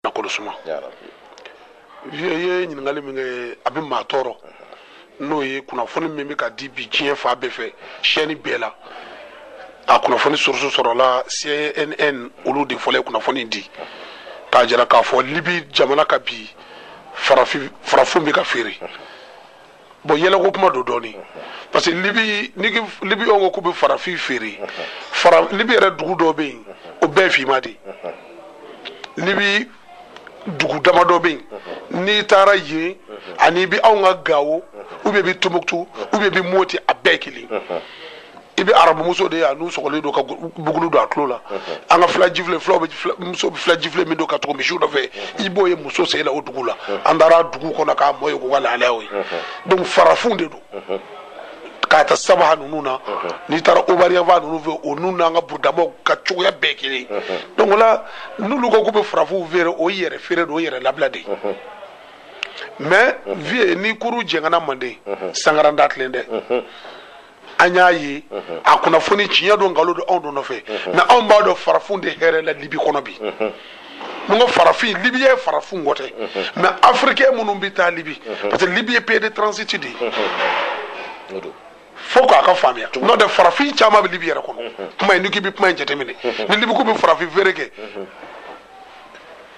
nafolo suma vieux ye ɲininkali min kɛ a bɛ maa tɔɔrɔ n'o ye kunnafoni min bɛ ka di bi diɲɛ fan bɛɛ fɛ chaîne bɛɛ la a kunnafoni source sɔrɔla cnn olu de fɔlɔ ye kunnafoni di k'a jira k'a fɔ libi jamana kan bi farafin bɛ ka feere bon yɛlɛko kuma don dɔɔnin parce que libi libi ko k'u bɛ farafin feere fara libi yɛrɛ dugu dɔ bɛ yen o bɛɛ finman de libi dugu dama dɔ bɛ yen n'i taara yen a n'i bɛ anw ka gawo ou bien i bɛ tombouctou ou bien i bɛ moti a bɛɛ kelen i bɛ arabumuso de ye a nun sɔgɔlen don ka bugulu don a tulo la an ka fila jifile fulaw bɛ fila- muso bɛ fila jifile min don ka tugu misiw nɔfɛ i b'o ye muso sen na o dugu la an taara dugu kɔnɔ ka mɔgɔ ye k'u ka lahalayaw ye donc farafinw de don k'a ta sabaha ninnu na n'i taara obari yanfan ninnu fɛ olu n'an ka burudamaw ka cogoya bɛɛ kelen ye. donc o la n'olu ko k'u bɛ farafinw feere o ye yɛrɛ feere don o ye yɛrɛ labila de ye mais vieux ni kurun jɛngɛnna manden sangaran da tilen dɛ an y'a ye a kunnafoni tiɲɛ don nkalon don anw don nɔfɛ mais anw b'a dɔn farafin tɛ hɛrɛ la libi kɔnɔ bi n'u ko farafin libi yɛrɛ farafin ko tɛ mais africain minnu bɛ taa libi parce que libi ye pays de transit de ye fo k'an k'a faamuya n'o tɛ farafin caman bɛ libi yɛrɛ kɔnɔ kuma in n'i k'i bɛ kuma in jateminɛ ni libi k'u bɛ farafin feere kɛ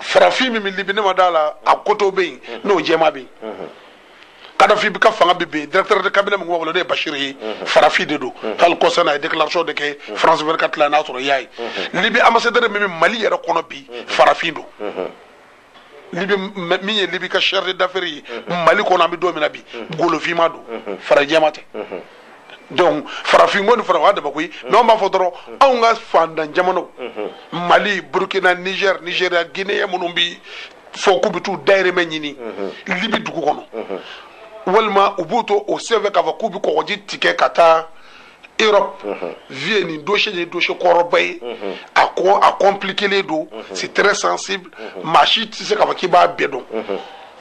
farafin min bɛ libi ne ma d'a la a koto bɛ yen n'o jɛman bɛ yen kadafi bi ka fanga bi bin directeur de cabinet min tun b'a bolo n'o ye bashir ye mhm. farafin de don mhm. hali kɔsa n'a ye déclaration de kɛ mhm. france 24 la n'a sɔrɔ i y'a ye libi ambassadeur min bɛ mali yɛrɛ kɔnɔ bi farafin don libi min ye libi ka chargé d'affaires ye mali kɔnɔ an bɛ don min na bi golofinman don farajɛman tɛ donc farafin ko ni fara wa daba koyi mais anw b'a fɔ dɔrɔn anw ka faantan jamanaw mali burkina niger nigeria guinée minnu bi fɔ k'u bɛ t'u dayirimɛ ɲini libi dugu kɔnɔ walima u b'u to o senfɛ k'a fɔ k'u bɛ kɔgɔji tigɛ ka taa Europe vieux nin dossier nin ye dossier kɔrɔba ye a ko a compliquélen don c'est très sensible maa si tɛ se k'a fɔ k'i b'a bɛɛ dɔn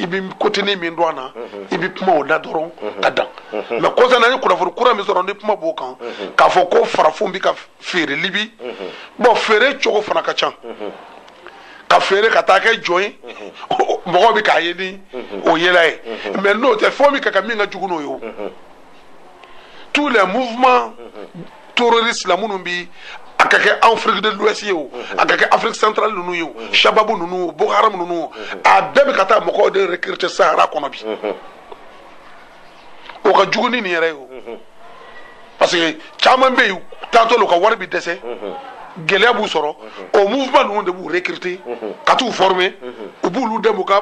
i bɛ côténin min dɔn a na i bɛ kuma o la dɔrɔn ka dan mais kɔsa na ni kunnafoni kura min sɔrɔ ni kuma b'o kan k'a fɔ ko farafinw bɛ ka feere libi bon feere cogo fana ka ca ka feere ka taa kɛ jɔn ye mɔgɔw bɛ k'a ye ni o yela ye mais n'o tɛ fɛn min ka ka min ka jugu n'o ye o tous les mouvements terroristes la minnu bi a ka kɛ Afrique de l'Ouest ye o a ka kɛ Afrique centrale ninnu ye o Shababu ninnu Boko Haram ninnu a bɛɛ bɛ ka taa mɔgɔw de recruter Sahara kɔnɔ bi o ka jugu ni nin yɛrɛ ye o parce que caman bɛ yen taatɔ la u ka wari bɛ dɛsɛ gɛlɛya b'u sɔrɔ o mouvement ninnu de b'u recruter ka t'u former u b'olu dɛmɛ u ka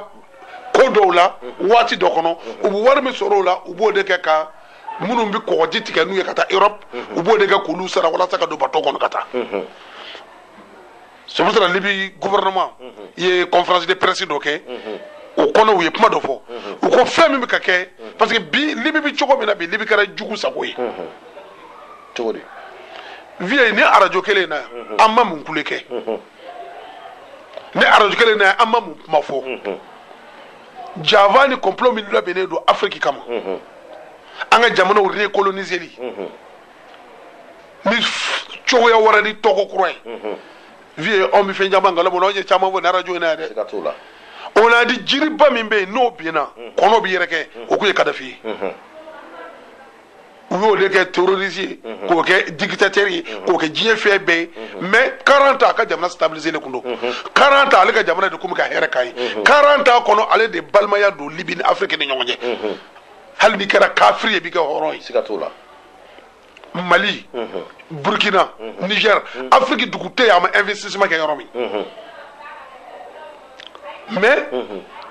ko dɔw la waati dɔ kɔnɔ u bɛ wari min sɔrɔ o la u b'o de kɛ ka minnu bɛ kɔgɔji tigɛ n'u ye ka taa Europe u b'o de kɛ k'olu sara walasa ka don bateau kɔnɔ ka taa. C'est pour ça libi gouvernement ye conférence de presse dɔ kɛ o kɔnɔ u ye kuma dɔ fɔ u ko fɛn min bɛ ka kɛ parce que bi libi bɛ cogo min na bi libi kɛra jugu sago ye cogo di Vieux ni arajo kelen in na an ma mun kule kɛ ni arajo kelen na an ma mun kuma fɔ janfa ni complot min labɛnnen don Afrique kama an ka jamanaw recoloniseli ni cogoya wɛrɛ ni tɔgɔ kura ye Vieux anw bɛ fɛn caman kalama anw ye caman fɔ nin arajo in na dɛ on a dit jiriba min bɛ yen n'o binna kɔnɔ bɛ yɛrɛkɛ o tun ye Kadhafi ye u y'o de kɛ terroriste ye k'o kɛ dictateur ye k'o kɛ diɲɛ fɛn bɛɛ ye mais 40 ans a ka jamana stabiliserlen tun don 40 ans ale ka jamana de tun bɛ ka hɛrɛ k'a ye 40 ans kɔnɔ ale de balimaya don Libye ni Afrique ni ɲɔgɔn cɛ hali n'i kɛra kafiri ye i bɛ kɛ hɔrɔn ye siga t'o la mali burkina niger Afrique dugu tɛ yen a ma investissement kɛ yɔrɔ min mais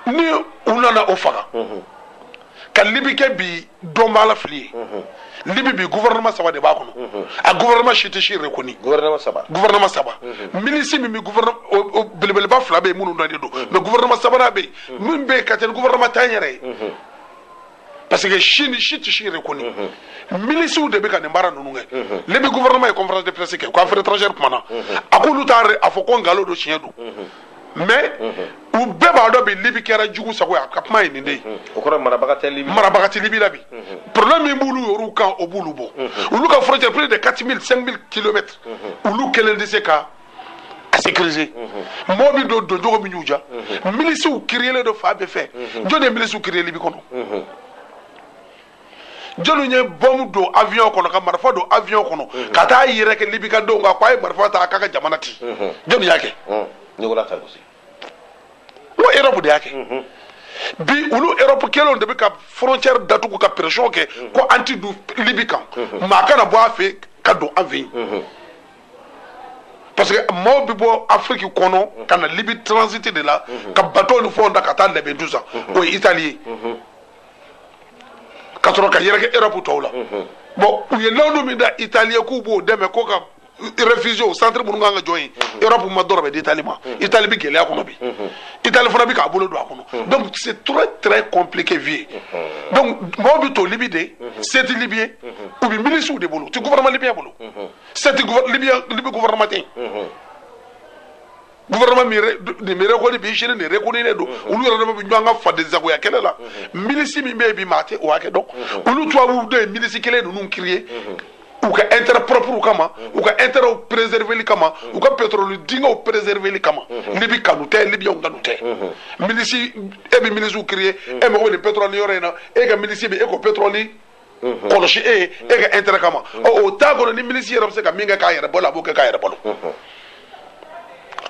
ni u nana o faga ka libi kɛ bi dɔnbaa la fili ye libi bi gouvernement saba de b'a kɔnɔ a gouvernement si tɛ si reconnu gouvernement saba gouvernement saba milisi min bɛ gouvernement o- o belebeleba fila bɛ yen minnu dɔnnen don mais gouvernement sabanan bɛ yen min bɛ yen ka tɛmɛ gouvernement tan yɛrɛ ye parce que si ni si tɛ si reconnu milisiw de bɛ ka nin baara ninnu kɛ libi gouvernement ye conférence de presse kɛ ko affaire étrangère kumana a k'olu t'a re- a fɔ ko nkalon don tiɲɛ don mais u bɛɛ b'a dɔn bi libi kɛra jugu sago ye a ka kuma ye nin de ye o kɔrɔ marabaga tɛ libi la bi problème min b'olu yɛrɛw kan o b'olu bɔ olu ka frontière plus de 4000 5000 kilomètres olu kelen tɛ se ka a sécuriser mɔgɔ bɛ don doncogo min y'u diya milisiw créerlen don fan bɛɛ fɛ jɔnni ye milisiw créer libi kɔnɔ jɔnni ye bɔmu don avion kɔnɔ ka marifa don avion kɔnɔ ka t'a yɛrɛkɛ libi ka denw kan k'a ye marifa ta k'a ka jamana ci jɔnni y'a kɛ Nicolas Sarkozy o Europe de y'a kɛ bi olu Europe kelenw de bɛ ka frontière datugu ka pression kɛ ko an ti don libi kan maa kana bɔ a fɛ ka don an fɛ yen parce que maaw bɛ bɔ afiriki kɔnɔ ka na libi transiter de là ka bateau ni fɛnw ta ka taa Lampedusa o ye itali ye ka sɔrɔ ka yɛrɛkɛ erɔpu tɔw la bon u ye layidu min ta itali ye k'u b'o dɛmɛ ko ka réfugiéw centre minnu kan ka jɔ yen Europe ma dɔrɔmɛ di Italie ma Italie bɛ gɛlɛya kɔnɔ bi Italie fana bɛ k'a bolo don a kɔnɔ donc c'est très très compliqué bi donc mɔgɔw bɛ to Libye de c'est Libye yen u bɛ milisiw de bolo u tɛ gouvernement libyen bolo. c'est que libi libi gouvernement tɛ yen mhm. gouvernement min nin min reconnu bi sini nin reconnulen don mhm. olu yɛrɛ dama bi ɲɔgɔn kan fadensagoya kɛlɛ la mhm. milisi min bɛ yen bi maa tɛ o hakɛ dɔn olu tubabu dɔ ye milisi kelen ninnu créer u ka intérêt proprew kama u ka intérêt préserverli kama u ka pétrole dingɛw préserverli kama libi kanu tɛ libiyɛnw kanu tɛ milisi e bi milisiw créer e mago bɛ nin pétrole yɔrɔ in na e ka milisi bɛ e k'o pétrole kɔlɔsi e ye e ka intérêt kama o t'a kɔnɔ ni milisi yɛrɛ bɛ se ka min kɛ k'a yɛrɛ balo a b'o kɛ k'a yɛrɛ balo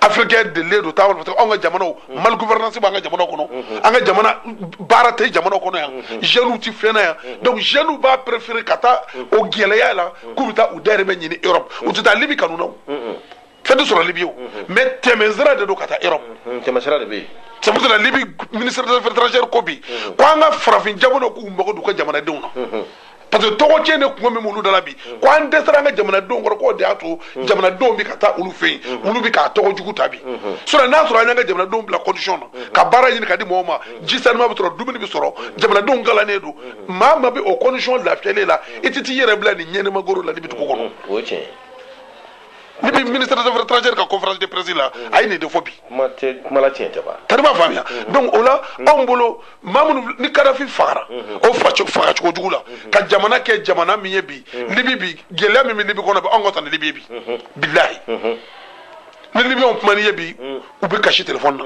africain delilen don taama la parce que anw ka jamanaw mal gouvernance b'an ka jamanaw kɔnɔ an ka jamana baara tɛ jamanaw kɔnɔ yan jeunes ti fɛn na yan donc jeunes b'a préférer ka taa o gɛlɛya la k'u bɛ taa u dayirimɛ ɲini Europe u tɛ taa Libi kanu na o fɛn tɛ sɔrɔ libi o mais tɛmɛsira de don ka taa Europe tɛmɛsira de bɛ yen sabu la libi ministre des affaires étrangères ko bi ko an ka farafin jamanaw k'u mago d'u ka jamanadenw na parce que tɔgɔ tiɲɛ de kun bɛ minnu da la bi ko an dɛsɛra an ka jamanadenw kɔrɔ k'o de y'a to jamanadenw bɛ ka taa olu fɛ yen olu bɛ k'a tɔgɔ jugu ta bi sinon n'a sɔrɔ an y'an ka jamanadenw bila condition na ka baara ɲini ka di mɔgɔw ma ji sanuma bɛ sɔrɔ dumuni bɛ sɔrɔ jamanadenw kalannen don maa ma bɛ o condition lafiyalen la i tɛ t'i yɛrɛ bila nin ɲɛnɛmagoro la libi dugu kɔnɔ. libi ministre des affaires étrangères ka conférence de presse la a ye nin de fɔ bi kuma tɛ kuma la tiɲɛ tɛ ban tari i m'a faamuya donc o la anw bolo maa minnu ni kadafi fagara o faco- faga cogo jugu la ka jamana kɛ jamana min ye bi libi bi gɛlɛya min bɛ libi kɔnɔ bi anw ka taa ni libi ye bi bilahi ni libiyɛnw kuman'i ye bi u bɛ kasi telefɔni na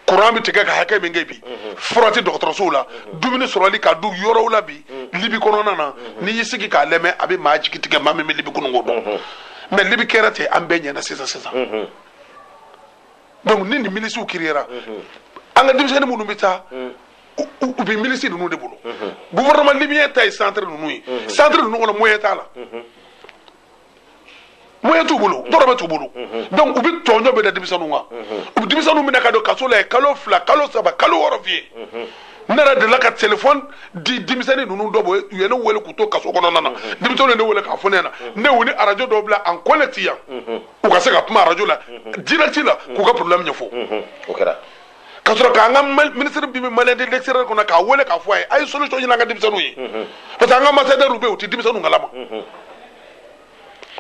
kuran bɛ tigɛ ka hakɛ min kɛ bi fura tɛ dɔgɔtɔrɔsow la dumuni sɔrɔli ka dɔgɔ yɔrɔw la bi libi kɔnɔna na n'i y'i sigi k'a lamɛn a bɛ maa jigi tigɛ maa min bɛ libi kununko dɔn mais libi kɛra ten an bɛɛ ɲɛna sisan sisan donc ni nin milisiw créera an ka denmisɛnnin minnu bɛ taa u bɛ milisi ninnu de bolo gouvernement libyen ta ye centre ninnu ye centre ninnu kɔnɔ moyen t'a la moyen t'u bolo dɔrɔmɛ t'u bolo donc u bɛ tɔɲɔ bɛɛ da denmisɛnninw kan u bɛ denmisɛnninw minɛ ka don kaso la yen kalo fila kalo saba kalo wɔɔrɔ f'i ye ne yɛrɛ delila ka telefɔni di denmisɛnnin ninnu dɔw bolo u ye ne wele k'u to kaso kɔnɔna na denmisɛnninw ye ne wele k'a fɔ ne ɲɛna ne y'u ni arajo dɔw bila en connecté yan u ka se ka kuma arajo la direct la k'u ka problème ɲɛfɔ o kɛra ka sɔrɔ k'an ka minisiri bɛ Maliens de l'extérieur kɔnɔ k'a wele k'a fɔ a ye a ye solution ɲini an ka denmisɛnninw ye parce que an ka ambassadeurw bɛ yen u tɛ denmisɛnninw kalama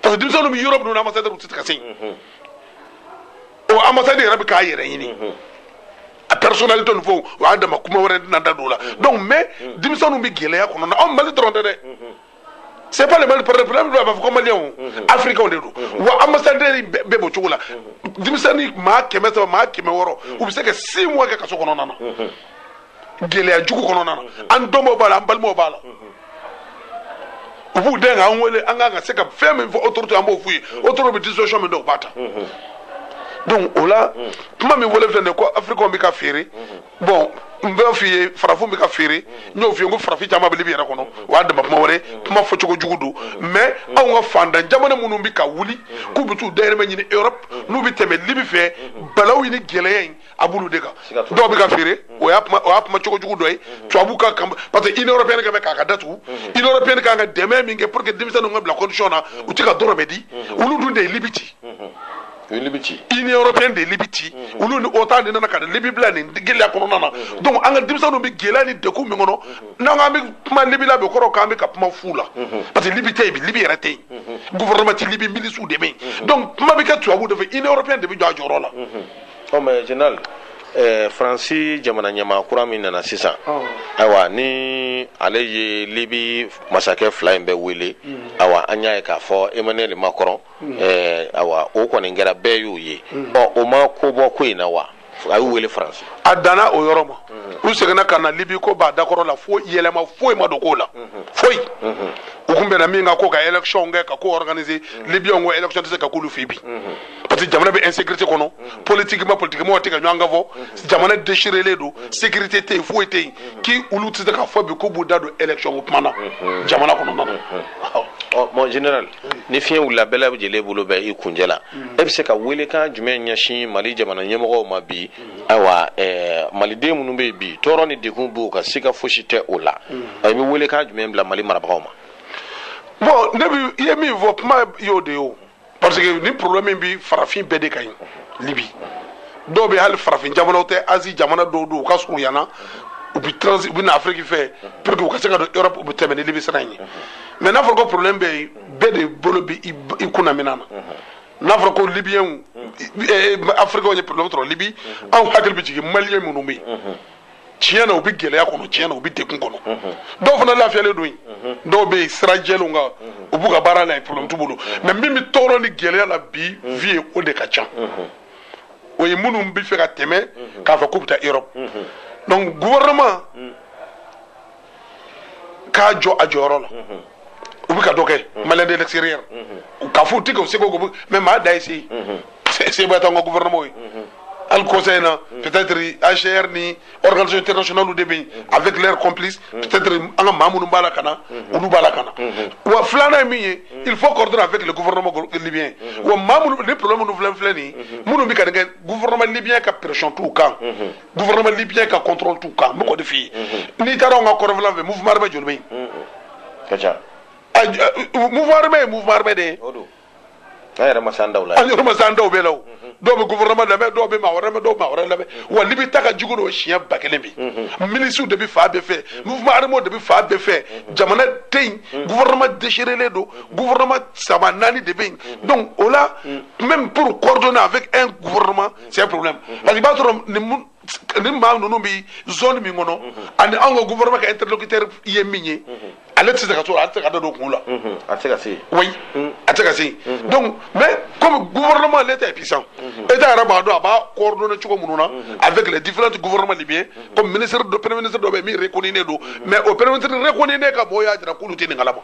parce que denmisɛnninw bɛ yɔrɔ minnu na ambassadeurw tɛ ka se yen o ambassade yɛrɛ bɛ k'a yɛrɛ ɲini a personnalité nin fɛnw o y'a dama kuma wɛrɛ ye n tɛna n da don o la donc mais denmisɛnninw bɛ gɛlɛya kɔnɔ anw Mali dɔrɔn tɛ dɛ. c'est pas le mal parce que problème ba a ma fɔ ko maliens africains de don wa ambassadeur bɛɛ b'o cogo la denmisɛnnin maa kɛmɛ saba maa kɛmɛ wɔɔrɔ u bɛ se ka six mois kɛ kaso kɔnɔna na gɛlɛya jugu kɔnɔna na an dɔnbaw b'a la an balimaw b'a la u b'u den k'an wele an kan ka se ka fɛn min fɔ autorité an b'o f'u ye autorité bɛ disposition min dɔn u b'a ta donc o la kuma min fɔlen filɛ nin ye ko africainw bɛ ka feere bon n b'a f'i ye farafin bɛ ka feere n y'o f'i ye ko farafin caman bɛ libi yɛrɛ kɔnɔ o y'a dama kuma wɛrɛ kuma fɔcogo jugu don mais anw ka fantan jamana minnu bɛ ka wuli k'u bɛ t'u dayirimɛ ɲini europe n'u bɛ tɛmɛ libi fɛ balaw ni gɛlɛya in a b'olu de kan dɔw bɛ ka feere o y'a kuma cogo jugu dɔ ye tubabu ka kan parce que union européenne kɛ bɛ k'a ka da tugu union européenne kan ka dɛmɛ min kɛ pour que denmisɛnninw ka bila condition na u tɛ ka dɔrɔmɛ di olu dun de ye libi ci union européenne de libi ci olu ni OTAN de nana ka libi bila nin gɛlɛya kɔnɔna na donc an ka denmisɛnninw bɛ gɛlɛya ni degun min kɔnɔ n'an k'an bɛ kuma libi la bi kɔrɔ k'an bɛ ka kuma fu la parce que libi tɛ yen bi libi yɛrɛ tɛ yen gouvernement tɛ libi milisiw de bɛ yen donc kuma bɛ kɛ tubabu de fɛ union européenne de bɛ jɔ a jɔyɔrɔ la. ɔ mon général ɛɛ faransi jamana ɲɛmaa kura min nana sisan ayiwa ni ale ye libi masakɛ fila in bɛɛ wele ayiwa an y'a ye k'a fɔ emmanuel macron hmm. eh, awa o kɔni kɛra bɛɛ y'o ye hmm. ɔ o ma ko bɔ ko in na wa a y'u wele faransi a danna o yɔrɔ ma hmm. u seginna ka na libi ko b'a dakɔrɔ la fo yɛlɛma foyi ma don ko la foyi u kun bɛnna min kan ko ka élection kɛ ka ko organiser libiyɛnw ko élection tɛ se ka k'olu fɛ bi parce que jamana bɛ insécurité kɔnɔ politiquement politique mɔgɔw tɛ ka ɲɔgɔn kan fɔ jamana déchirélen don sécurité tɛ yen foyi tɛ yen k'i olu tɛ se k'a fɔ bi k'u b'u da don élection ko kuma na jamana kɔnɔna na. ɔ mon général. ni fiɲɛ wulila bɛɛ lajɛlen bolo bɛ i kunjɛ la e bɛ se ka weelekan jumɛn ɲɛsin mali jamana ɲɛmɔgɔw ma bi ayiwa maliden minnu bɛ yen bi tɔɔrɔ ni degun b'u kan siga fosi tɛ o la e bɛ weelekan jumɛn bila mali marabagaw ma bon ne i ye min fɔ kuma y'o de ye parce que nin problème bɛ farafin bɛɛ de kan yen libi dɔw bɛ hali farafin jamanaw tɛ Asie jamana dɔw don u ka surun yan na u bɛ na afiriki fɛ pour que u ka se ka don Europe u bɛ tɛmɛ libi sira in ye mais n'a fɔra ko problème bɛ yen bɛɛ de bolo bɛ i kunna minɛn na n'a fɔra ko libiyɛnw eh, afirikɛnw ye problème sɔrɔ libi anw hakili bɛ jigin maliyɛn minnu bɛ yen tiɲɛ na u bɛ gɛlɛya kɔnɔ tiɲɛ na u bɛ degun kɔnɔ dɔw fana lafiyalen don yen dɔw bɛ yen sira jɛlenw kan u b'u ka baara la yen problème t'u bolo mais min bɛ tɔɔrɔ ni gɛlɛya la bi vie ye o de ka ca o ye minnu bɛ fɛ ka tɛmɛ k'a fɔ k'u bɛ taa Europe donc gouvernement k'a jɔ a jɔyɔrɔ la u bɛ ka dɔ kɛ maliens de l'extérieur k'a f'u tɛ k'u seko kɛ mais maa da ye se seba t'an ka gouvernement ye hali conseil na peut-être HCR ni organisation internationale de bɛ yen avec leur complice peut-être an ka maa minnu b'a la ka na olu b'a la ka na wa filanan ye min ye il faut coordonner avec le gouvernement libyen wa maa minnu ni problème minnu filɛ filɛ nin ye minnu bɛ ka nin kɛ gouvernement libyen ka pression t'u kan gouvernement libyen ka contrôle t'u kan n b'o de f'i ye n'i taara anw ka kɔrɔnfɛla fɛ mouvement armé joli bɛ yen a ka ca mouvement armé ye mouvement armé de ye an yɛrɛ ma s'an taw la an yɛrɛ ma s'an taw bɛɛ la o dɔw bɛ gouvernement lamɛn dɔw bɛ maa wɛrɛ lamɛn dɔw bɛ maa wɛrɛ lamɛn wa libi ta ka jugu n'o ye siɲɛ ba kelen bi milisiw de bɛ fan bɛɛ fɛ mouvement armé de bɛ fan bɛɛ fɛ jamana tɛ yen gouvernement déchirélen don gouvernement saba naani de bɛ yen donc o la même pour coordonner avec un gouvernement c'est problème parce que i b'a sɔrɔ nin nin maa ninnu bɛ zone min kɔnɔ ani anw ka gouvernement ka interlocuteur ye min ye ale tɛ se ka to a tɛ se ka da don kun la a tɛ se ka se yen oui a tɛ se ka se yen donc mais comme gouvernement l'état est puissant état yɛrɛ b'a dɔn a b'a coordonner cogo minnu na avec les différents gouvernements libyens comme ministre dɔ premier ministre dɔ bɛ yen min reconnulen don mais o premier ministre reconnulen ka mɔgɔw y'a jira k'olu tɛ nin kalama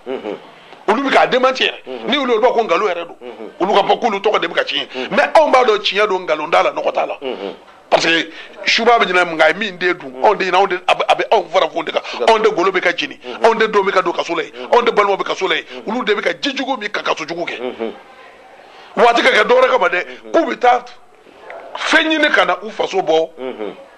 olu bɛ k'a démentir mhm. ni olu b'a ko nkalon yɛrɛ don mhm. olu k'a fɔ k'olu tɔgɔ de bɛ ka tiɲɛ mhm. mais anw b'a dɔn tiɲɛ don nkalon t'a la nɔgɔ t'a la parce que subaa bɛ ɲinɛ nka a ye min den dun o tɛ ɲinɛ anw de a bɛ anw farafin de kan anw de golo bɛ ka jeni anw de denw bɛ ka don kaso la yen anw de balimaw bɛ kaso la yen olu de bɛ ka ji jugu min ka kaso jugu kɛ wa a tɛ ka kɛ dɔwɛrɛ kama dɛ k'u bɛ taa fɛn ɲini ka na u faso bɔ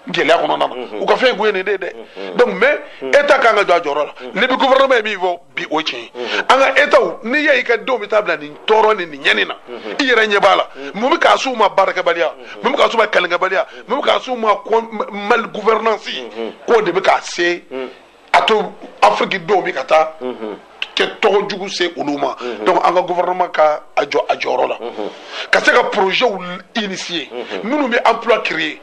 gɛlɛya kɔnɔna na u ka fɛn kun ye nin de dɛ donc mais état kan k'a jɔ a jɔyɔrɔ la libi gouvernement ye min fɔ bi o tiɲɛ an ka états n'i y'a ye i ka denw bɛ taa bila nin tɔɔrɔ ni nin ɲani na i yɛrɛ ɲɛ b'a la mun bɛ k'a s'u ma baarakɛbaliya mun bɛ k'a s'u ma kalenkɛbaliya mun bɛ k'a s'u ma mal gouvernance k'o de bɛ k'a se a to afiriki denw bɛ ka taa kɛ tɔgɔ jugu se olu ma donc an ka gouvernement ka a jɔ a jɔyɔrɔ la ka se ka projets initier minnu bɛ emploi créer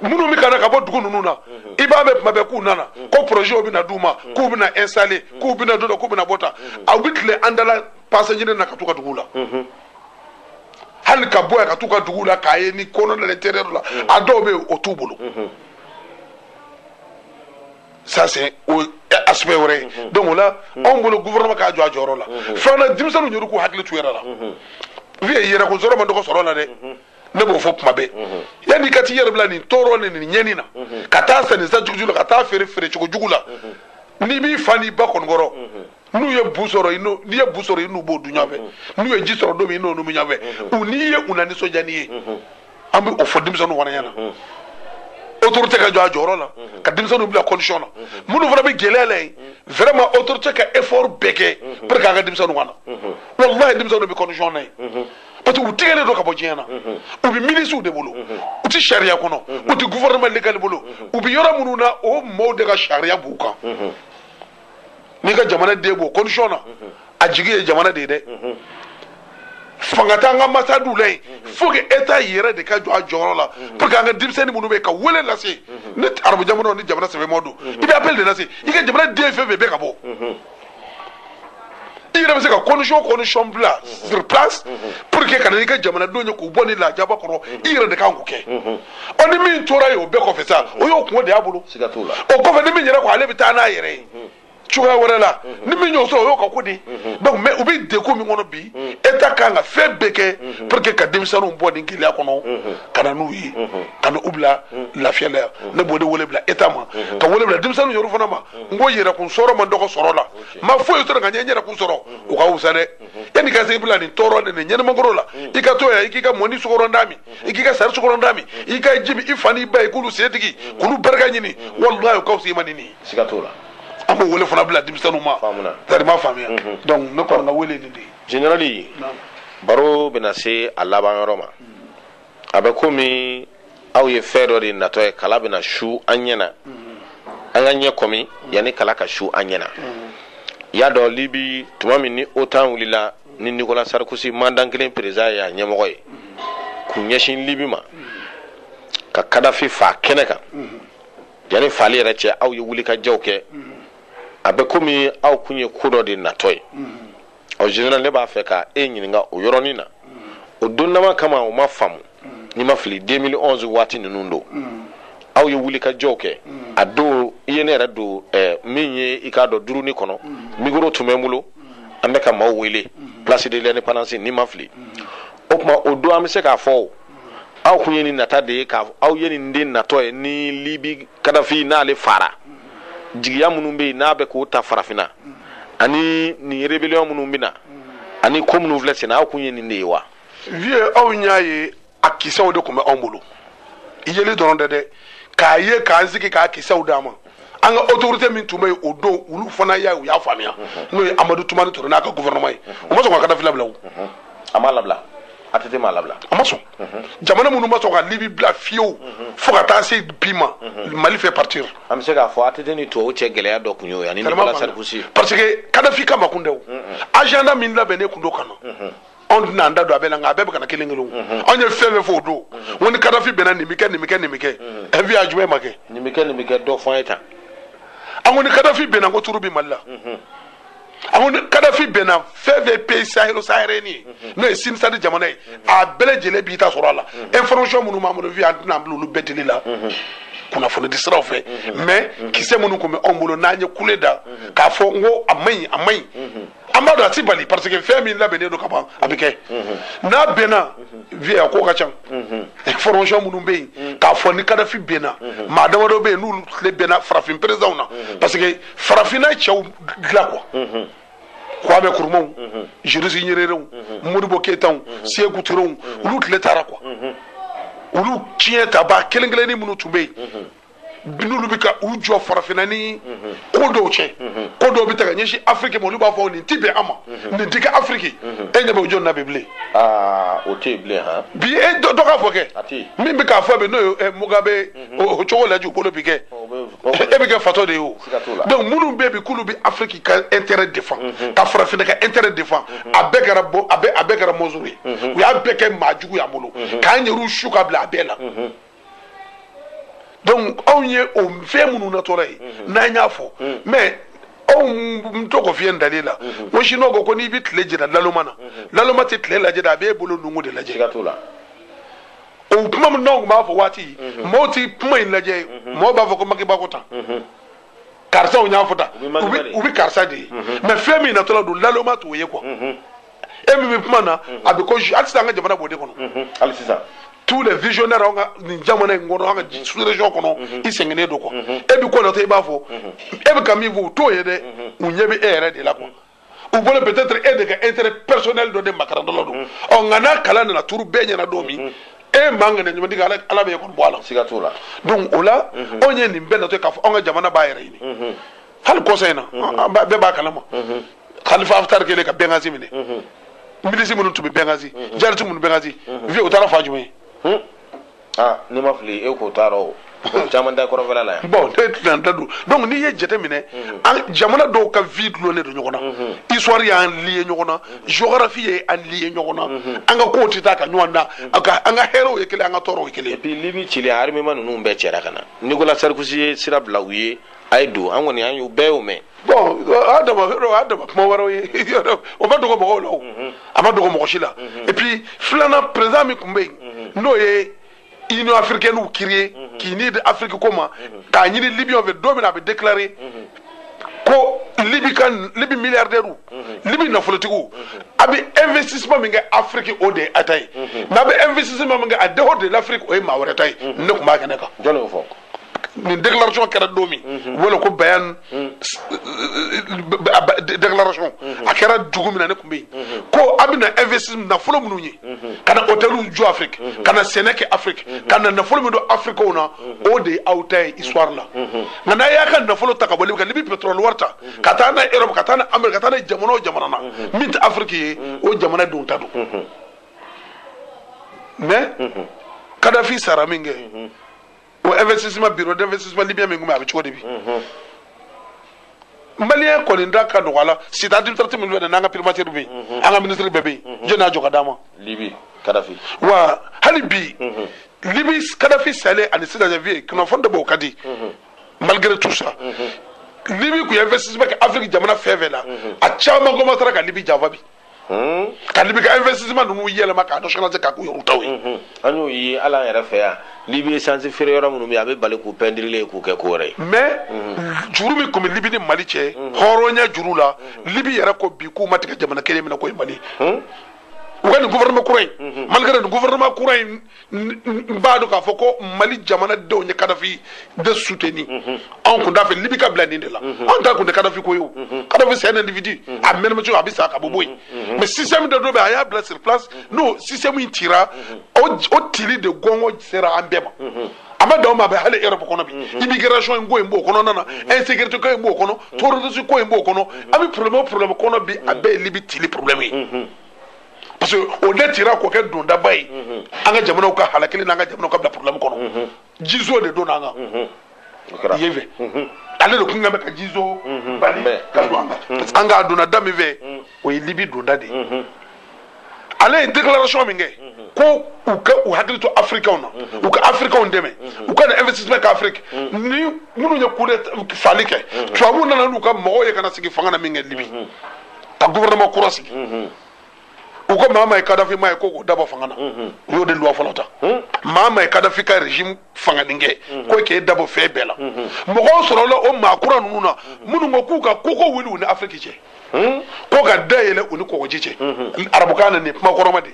minnu bɛ ka na ka bɔ dugu ninnu na i b'a mɛn tuma bɛɛ k'u nana ko projets bɛna d'u ma k'u bɛna installer k'u bɛna don tan k'u bɛna bɔ tan aw bɛ tile an da la passage ɲini na ka t'u ka dugu la. hali ka bɔ yan ka t'u ka dugu la kayi ni kɔnɔ de l'intérieur la a dɔw bɛ yen o t'u bolo. ça c'est o aspect wɛrɛ ye donc o la anw bolo gouvernement ka jɔ a jɔyɔrɔ la filanan denmisɛnninw yɛrɛ k'u hakili to u yɛrɛ la vieux yɛrɛkun sɔrɔ man dɔgɔ sɔrɔ la dɛ ne b'o fɔ tuma bɛɛ yanni i ka t'i yɛrɛ bila nin tɔɔrɔ ni nin ɲɛni na ka taa sa nin sa jugujugu la ka taa feere feere cogo jugu la n'i b'i fa n'i ba kɔni kɔrɔ n'u ye bu sɔrɔ n'i ye bu sɔrɔ i n'u b'o dun ɲɔgɔn fɛ n'u ye ji sɔrɔ don min i n'u b'o min ɲɔgɔn fɛ u n'i ye u na nisɔndiya n'i ye an bɛ o fɔ denmisɛnninw fana ɲɛna autorité ka jɔ a jɔyɔrɔ la ka denmisɛnninw bila condition na minnu fana bɛ gɛlɛya la yen vraiment autorité ka effort bɛɛ kɛ pour que an ka denmisɛnninw ka na walahi denmisɛnninw bɛ condition na yen parce que u tigɛlen don ka bɔ diɲɛ na u bɛ milisiw de bolo u tɛ sariya kɔnɔ u tɛ gouvernement légal bolo u bɛ yɔrɔ minnu na o maaw de ka sariya b'u kan. n'i ka jamana den b'o condition na a jigi ye jamana de ye dɛ fanga t'an ka ambassadew la yen fo que état yɛrɛ de ka jɔ a jɔyɔrɔ la pour que an ka denmisɛnnin minnu bɛ yen ka wele lase ni arabu jamanaw ni jamana sɛbɛma don i bɛ appel de lase i ka jamana den fɛn fɛn bɛ ka bɔ i yɛrɛ bɛ se ka condition condition bila sur place pour que ka na n'i ka jamanadenw ye k'u bɔ nin lajaba kɔrɔ i yɛrɛ de kan k'o kɛ ɔ ni min tora yen o bɛɛ kɔfɛ ça o y'o kunko de y'a bolo siga t'o la o kɔfɛ ni min yɛrɛ ko ale bɛ taa n'a yɛrɛ ye cogoya wɛrɛ la ni min y'o sɔrɔ o y'o ka ko di donc mais u bɛ degun min kɔnɔ bi état kan ka fɛn bɛɛ kɛ pour que ka denmisɛnninw bɔ nin gɛlɛya kɔnɔ ka na n'u ye ka na u bila lafiya la yan ne b'o de wele bila état ma ka wele bila denmisɛnninw yɛrɛ fana ma n ko yɛrɛkun sɔrɔ man dɔgɔ sɔrɔ la ma foyi sɔrɔ nka n ye n yɛrɛkun sɔrɔ o ka wusa dɛ yanni ka se bila nin tɔɔrɔ ni nin ɲɛnɛmakoro la i ka to yan i k'i ka mɔni sukarontan min i k'i ka sari sukarontan min i ka jigin i fa n'i ba ye k'olu sen digi k'olu barika ɲini walayi o ka wusa i ma ni nin siga t'o la an b'o wele fana bila denmisɛnninw ma Faamuna. tari ma faamuya donc ne kɔni ka wele ye nin de ye général baro bɛna se a laban yɔrɔ ma a bɛ komi aw ye fɛn dɔ de natɔ ye kala bɛna su an ɲɛ na an ka ɲɛ kɔmi yanni kala ka su an ɲɛ na i y'a dɔn libi tuma min ni OTAN wulila ni Nicolas Sarkozy maa dankalen président ye a ɲɛmɔgɔ ye k'u ɲɛsin libi ma ka Kadafi faa kɛnɛ kan yanni faali yɛrɛ cɛ aw ye wulikajɔw kɛ a bɛ komi aw tun ye ko dɔ de natɔ ye ɔ général ne b'a fɛ ka e ɲininka o yɔrɔnin na o donnama kama o ma faamu ni n ma fili 2011 waati ninnu don aw ye wulikajɔw kɛ a don i ye ne yɛrɛ don eh, min ye i k'a dɔn duruni kɔnɔ mikoro tun bɛ n bolo an bɛ ka maaw wele place de l'indépendance ni n ma fili o tuma o don an bɛ se k'a fɔ aw tun ye nin natɔ de ye aw ye nin de natɔ ye ni libi kadafi n'ale faara jigiya minnu bɛ yen n'a bɛ k'o ta farafinna ani nin rébellion minnu bɛ na ani ko minnu filɛ senna aw kun ye nin de ye wa. vieux anw y'a ye a kisɛw de tun bɛ anw bolo yeli dɔrɔn tɛ dɛ k'a ye k'an sigi k'a kisɛw d'a ma an ka autorité min tun bɛ yen o don olu fana y'a ye u y'a faamuya n'o ye amadu tumani ture n'a ka gouvernement ye u ma sɔn ka kadafi labila o. a m'a labila. att m'a labila a ma sɔn jamana minnu ma sɔn ka libi bila fiyewu fo ka taa se bi ma mali fait partie an bɛ se k'a fɔ att ni tubabu cɛ gɛlɛya dɔ tun y'o ye ani nicolas sarkozy parce que kadafi kama kun tɛ o agenda min labɛnnen tun don ka na anw tɛna an da don a bɛɛ la nka a bɛɛ bɛ ka na kelen kelen anw ye fɛn fɛn fɔ o don ko ni kadafi binna nin bɛ kɛ nin bɛ kɛ nin bɛ kɛ ɛn vieux a jumɛn ma kɛ nin bɛ kɛ nin bɛ kɛ dɔ fɔ an ye tan an ko ni kadafi binna ko tour bi mali la an ko ni kadafi binna fɛn fɛn pays sahélo-saharien ye n'o ye cen-sad jamana ye a bɛɛ lajɛlen b'i ta sɔrɔ a la information minnu b'an bolo vieux an tɛna an bila olu bɛɛ dili la kunnafonidi siraw fɛ mais kisɛ minnu tun bɛ anw bolo n'an ye kule da k'a fɔ n ko a man ɲi a man ɲi an b'a dɔn a ti bali parce que fɛn min labɛnnen don ka ban a bɛ kɛ n'a binna vieux a ko ka ca information minnu bɛ yen k'a fɔ ni kadafi binna maa damadɔ bɛ yen n'olu tile binna farafin présidents na parce que farafinna cɛw dilan quoi mhm. kwame nkrumaw mhm. julius nyererew mhm. modibo keyitaw seku turew olu tile taara quoi olu tiɲɛ ta ba kelen kelenni minnu tun bɛ yen n'olu bɛ ka u jɔ farafinna ni ko dɔw tiɲɛ ko dɔw bɛ ta ka ɲɛsin afiriki ma olu b'a fɔ nin ti bɛn an ma nin ti kɛ afiriki e ɲɛ bɛ o jɔn na bi bilen. aa o tɛ yen bilen han. bi e dɔ k'a fɔ kɛ min bɛ k'a fɔ bi n'o ye mugabe o cogo lajɛ u bolo bi kɛ e bɛ kɛ fatɔ de ye o. donc minnu bɛ bi k'olu bɛ afiriki ka intérêt défend mhm. ka farafinna ka intérêt défend mhm. a bɛɛ kɛra bon a bɛɛ a bɛɛ kɛra monstre ye mhm. u y'a bɛɛ kɛ maa jugu y'an bolo k'an yɛrɛw su ka bila a bɛɛ la donc anw ye o fɛn minnu natɔla ye n'an y'a fɔ mais aw n to k'o f'i ye ntalen la ko sinuwa ko ko n'i bɛ tile jira laloma na laloma tɛ tile lajɛ dɛ a b'e bolo nunkun de lajɛ o kuma min n'anw tun b'a fɔ waati mɔɔw ti kuma in lajɛ mɔɔw b'a fɔ ko maki ba ko tan karisaw y'a fɔ tan u bɛ karisa de ye mais fɛn min natɔla don laloma t'o ye quoi e min bɛ kuma na a bɛ ko hali sisan an ka jamana b'o de kɔnɔ hali sisan tous les visionnaires an ka nin jamana in kɔnɔ an ka sous-région kɔnɔ i sɛgɛnnen don quoi e bɛ ko natɔ i b'a fɔ e bɛ ka min fɔ u t'o ye dɛ u ɲɛ bɛ e yɛrɛ de la quoi u bolo peut-être e de ka intérêt personnel dɔ de makarantɔla don ɔ nka n'a kala nana turu bɛɛ ɲɛ na don min e man kɛnɛ ɲuman digi ala ala bɛ e kɔni bɔ a la siga t'o la donc o la anw ye nin bɛɛ natɔ ye k'a fɔ anw ka jamana b'a yɛrɛ ɲini hali kɔsa in na bɛɛ b'a kalama kalifa haftar kɛlen ka benghazi minɛ milisi minnu tun bɛ benghazi djihadistes minnu benghazi vieux o taara fan jumɛn ye aa n'i ma fili e k'o t'a rɔ caman da kɔrɔnfɛla la yan bon e tɛna da don donc n'i ye jate minɛ mhm. an jamana dɔw ka vie dulonnen don ɲɔgɔn na mhm. histoire y'an lier ɲɔgɔn na mhm. géographie ye an lier ɲɔgɔn na an ka kow tɛ taa ka ɲɔgɔn dan an ka hɛrɛw ye kelen an ka tɔɔrɔw ye kelen et puis libi cili armement ninnu bɛɛ cɛra ka na nicolas sarkozy ye sira bila u ye a ye don an kɔni an y'u bɛɛ y'o mɛn bon adama adama kuma wɛrɛw ye o ma dogo mɔgɔw la o mhm. a ma dogo mɔgɔ si la mhm. et puis filanan président min tun bɛ yen mhm. n'o ye union africaine créer k'i ni di afiriki ko ma k'a ɲini libiyɛnw fɛ don min na a bɛ déclarer ko libi ka libi milliardaires libi nafolotigiw a bɛ investissement min kɛ afiriki o de ye a ta ye mais a bɛ investissement min kɛ en dehors de l'afrique o ye maa wɛrɛ ta ye ne tun b'a kɛnɛ kan jɔn y'o fɔ nin déclaration kɛra don min u b'o wele ko bayan déclaration a kɛra dugu min na ne tun bɛ yen ko a bɛ na investissement nafolo minnu ye ka na hôteliw jɔ Afrique ka na sɛnɛ kɛ Afrique ka na nafolo min don Africainw na o de ye aw ta ye histoire la nka n'a y'a ka nafolo ta ka bɔ Libi ka Libi pétrole wari ta ka taa n'a ye Europe ka taa n'a ye Amérique ka taa n'a ye jamana o jamana na min tɛ Afrique ye o jamana denw ta don mais Kadhafi sara min kɛ o investissement bureau d'investissement libyen min tun bɛ a bɛ cogo di bi maliyɛn kɔni da ka nɔgɔ a la cité administrative min bɛ n'an ka primature bɛ yen an ka minisiri bɛɛ bɛ yen jɔni y'a jɔ k'a d'an ma libi kadafi wa hali bi libi kadafi salen ani sisan janvier kunnafoni dɔ bɛ o ka di malgré tout ça libi tun ye investissement kɛ afiriki jamana fɛn fɛn na a caman commencera ka libi janfa bi Hmm? ka libi ka investissement ninnu yɛlɛma k'a nationaliser k'a k'u yɛrɛw taw ye hmm, an y'o ye hali an yɛrɛ fɛ yan libi essence feere yɔrɔ minnu bɛ yen a bɛ bali k'u pɛndirile k'u kɛ ko wɛrɛ ye mais hmm. juru min tun bɛ libi ni mali cɛ hɔrɔnya juru la libi yɛrɛ ko bi k'u ma tigɛ jamana kelen min na k'o ye mali ye u ka nin gouvernement kura in malgré nin gouvernement kura in n b'a dɔn k'a fɔ ko mali jamana denw ye kadafi de soutenir mhm. anw kun t'a fɛ libi ka bila nin de la mhm. anw ta kun tɛ kadafi ko ye o mhm. kadafi c'est un individu a mana mɛn cogo a bɛ sa ka bɔ bɔ yen mais système dɔ dɔ bɛ a y'a bila sur place n'o système in cira o tili de gɔngɔ sera an bɛɛ ma a ma dan o ma a bɛ hali europe kɔnɔ bi immigration in ko in b'o kɔnɔna na insécurité ko in b'o kɔnɔ terrorisme ko in b'o kɔnɔ an bɛ problème o problème kɔnɔ bi a bɛɛ ye libi tili problème ye parce que o de tira k'o kɛ dondaba ye an ka jamanaw ka halakili n'an ka jamanaw ka bila problème kɔnɔ jizo de donn'an kan yen fɛ ale de kun kan bɛ ka jizo bali ka don an kan an k'a donna da min fɛ o ye libi donda de ye ale ye déclaration min kɛ ko u ka u hakili to afirikɛnw na u ka afirikɛnw dɛmɛ u ka na investissement kɛ afiriki ni minnu ye coup d'état fali kɛ tubabuw nana n'u ka mɔgɔw ye ka na sigi fanga na min kɛ libi ka gouvernement kura sigi u ko maa maa ye kadafi maa ye ko k'o dabɔ fanga na u y'o de loi fɔlɔ ta maa maa ye kadafi ka régime fanganin kɛ ko k'e dabɔ fɛn bɛɛ la mɔgɔw sɔrɔla o maa kura ninnu na minnu ko k'u ka koko wuli u ni afiriki cɛ ko ka da yɛlɛ u ni kɔgɔji cɛ arabukan na nin kuma kɔrɔma de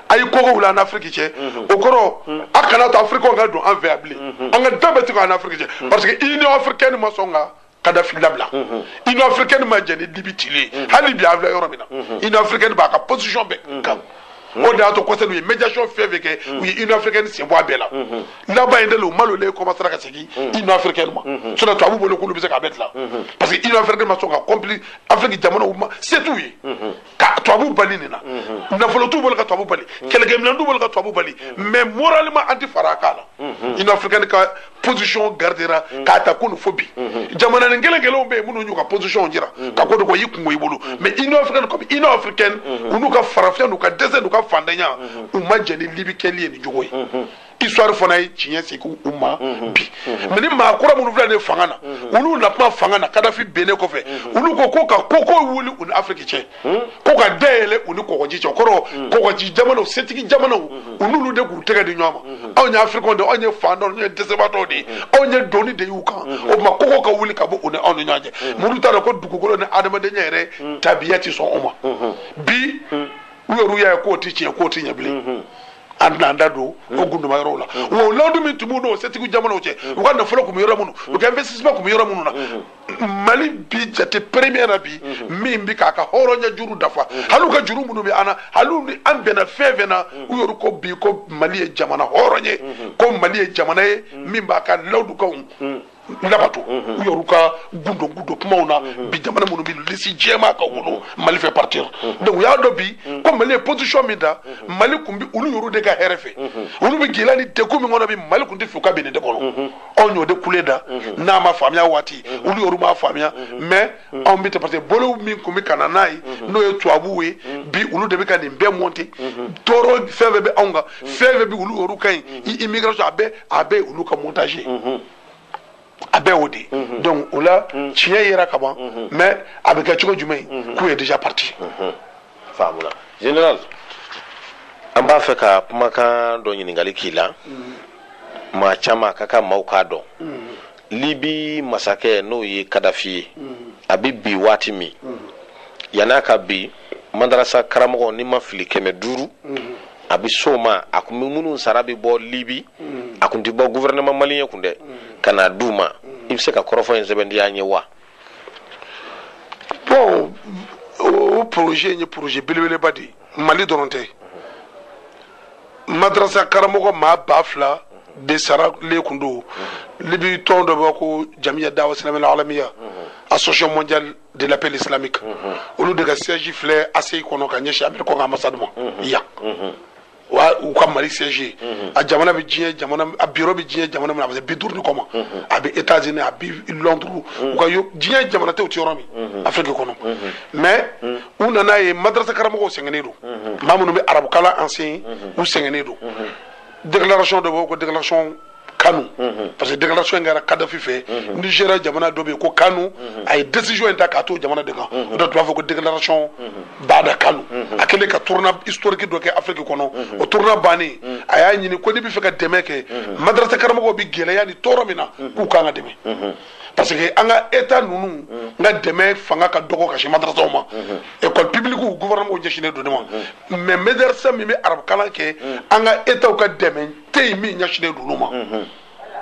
a ye koko wuli an ni afiriki cɛ o kɔrɔ a kana to afirikaw ka don an fɛ yan bilen an ka da bɛɛ tugu an ni afiriki cɛ parce que union africaine ma sɔn ka kadafi labila union africaine ma jɛn ni libi cili ye hali bi an filɛ yɔrɔ min na union africaine b'a ka position bɛɛ kan o de y'a to kɔsɛbɛ u ye médiation fɛn fɛn kɛ u ye union africaine sen bɔ a bɛɛ la laban in de la u malolen commencera ka segin union africaine ma sinon tubabu bolo k'olu bɛ se k'a bɛɛ dilan parce que union africaine ma sɔn ka comploter afrique jamanaw mumɛ se t'u ye ka tubabu bali nin na mhm. nafolo t'u bolo ka tubabu bali mhm. kɛlɛkɛminɛn t'u bolo ka tubabu bali mhm. mais moralement an tɛ fara a kan na union africaine ka position gardera k'a ta kunu fo bi jamananin kelen kelenw bɛ yen minnu y'u ka position jira ka ko de ko y'i kunko i bolo mais union africaine comme union africaine u n'u ka farafinya n'u ka dɛsɛ n'u ka fantanya u ma jɛn ni libi kɛli ye nin cogo ye histoire fana ye tiɲɛ segin u ma bi mais nin maa kura minnu filɛ nin fanga na olu na kuma fanga na kadafi binnen kɔfɛ olu ko ko ka koko wuli u ni afiriki cɛ ko ka da yɛlɛ u ni kɔgɔji cɛ o kɔrɔ kɔgɔji jamanaw setigi jamanaw u n'olu de k'u tɛgɛ di ɲɔgɔn ma anw ye africains de anw ye fantanw anw ye dɛsɛbaatɔw de ye anw ye doni de y'u kan o tuma koko ka wuli ka bɔ u ni anw ni ɲɔgɔn cɛ minnu t'a dɔn ko dugukolo ni adamadenya yɛrɛ tabiya ti sɔn o ma bi u yɛrɛ y'a ye k'o ti tiɲɛ k'o ti ɲɛ bilen an tɛn'an da don o gundoma yɔrɔw la wa o layidu min tun b'u n'o setigi jamanaw cɛ u ka nafolo tun bɛ yɔrɔ minnu u ka investissement tun bɛ yɔrɔ minnu na mali bi jate premier na bi min bɛ k'a ka hɔrɔnya juru dafa hali u ka juru minnu bɛ an na hali u ni an bɛnna fɛn fɛn na u yɛrɛ ko bi ko mali ye jamana hɔrɔn ye ko mali ye jamana ye min b'a ka layidukanw labato u yɛrɛ ka gundo gundo kumaw na bi jamana minnu bɛ lisi jɛman kan u bolo mali fait partie donc u y'a dɔn bi ko mali ye position min ta mali kun bi olu yɛrɛ de ka hɛrɛ fɛ olu bɛ gɛlɛya ni degun min kɔnɔ bi mali kun tɛ fɛ u ka bin nin de kɔnɔ anw y'o de kule da n'a ma faamuya waati olu yɛrɛ m'a faamuya mais Mm. anw bɛ parce que bolo min tun bɛ ka na n'a ye mm-hmm. n'o ye tubabuw ye mm. bi olu de bɛ ka nin bɛɛ monter mm-hmm. tɔɔrɔ fɛn fɛn bɛ anw kan mm. fɛn fɛn bɛ olu yɛrɛ kan mm-hmm. i immigration a bɛɛ a bɛɛ olu ka montage ye a bɛɛ o de ye donc o la tiɲɛ yera ka ban mais a bɛ kɛ cogo jumɛn ye coup est déjà parti. faamuna général an b'a fɛ ka kumakan dɔ ɲininkali k'i la maa caman a ka kan maaw k'a dɔn. Libi masakɛ n'o ye Kadafi ye, a bɛ bin waati min, yanni a ka bin, madarasa karamɔgɔ ni n ma fili kɛmɛ duuru a bɛ s'o ma, a tun bɛ minnu sara bɛ bɔ Libi, a tun tɛ bɔ gouvernement malien kun dɛ, ka n'a d'u ma, i bɛ se ka kɔrɔfɔ in sɛbɛntiya an ye wa? bɔn o poroze in ye poroze belebeleba de ye mali dɔrɔn tɛ madarasa karamɔgɔ maa ba fila de saralen kun don libi tɔn dɔ bɛ ko jamiya dawa silamiya al alamiya association mondiale de l'appel islamique olu de ka siège filɛ ACI kɔnɔ ka ɲɛsin américainw ka ambassade ma yan u ka mali siège mhm. a jamana bɛ diɲɛ jamana a bureau bɛ diɲɛ jamana min na a bɛ se bi duuru ni kɔ ma mhm. a bɛ États-Unis a bi Londres mhm. u ka diɲɛ jamana tɛ u tɛ yɔrɔ min Afrique kɔnɔ mais u nan'a ye madrasa karamɔgɔw sɛgɛnnen don maa minnu bɛ arabukalan enseigner u sɛgɛnnen don déclaration dɔ b'o ko déclaration kanu mhm. parce que déclaration in kɛra kadafi fɛ mhm. nigéria jamana dɔ bɛ yen ko kanu mhm. a ye décision in ta k'a to jamana de kan o de tun b'a fɔ ko déclaration bada kanu a kɛlen ka tournée historique dɔ kɛ afiriki kɔnɔ o tournée bannen a y'a ɲini ko n'i b'a fɛ ka dɛmɛ kɛ madarasa karamɔgɔw bɛ gɛlɛya ni tɔɔrɔ min na k'u ka kan ka dɛmɛ parce que an ka état ninnu ka dɛmɛ fanga ka dɔgɔ ka sin madarasaw ma école publique gouvernement ɲɛsinnen don o ma mais madarasa min bɛ arabukalan kɛ an ka état ka dɛmɛ tɛ yen min ɲɛsinnen don olu ma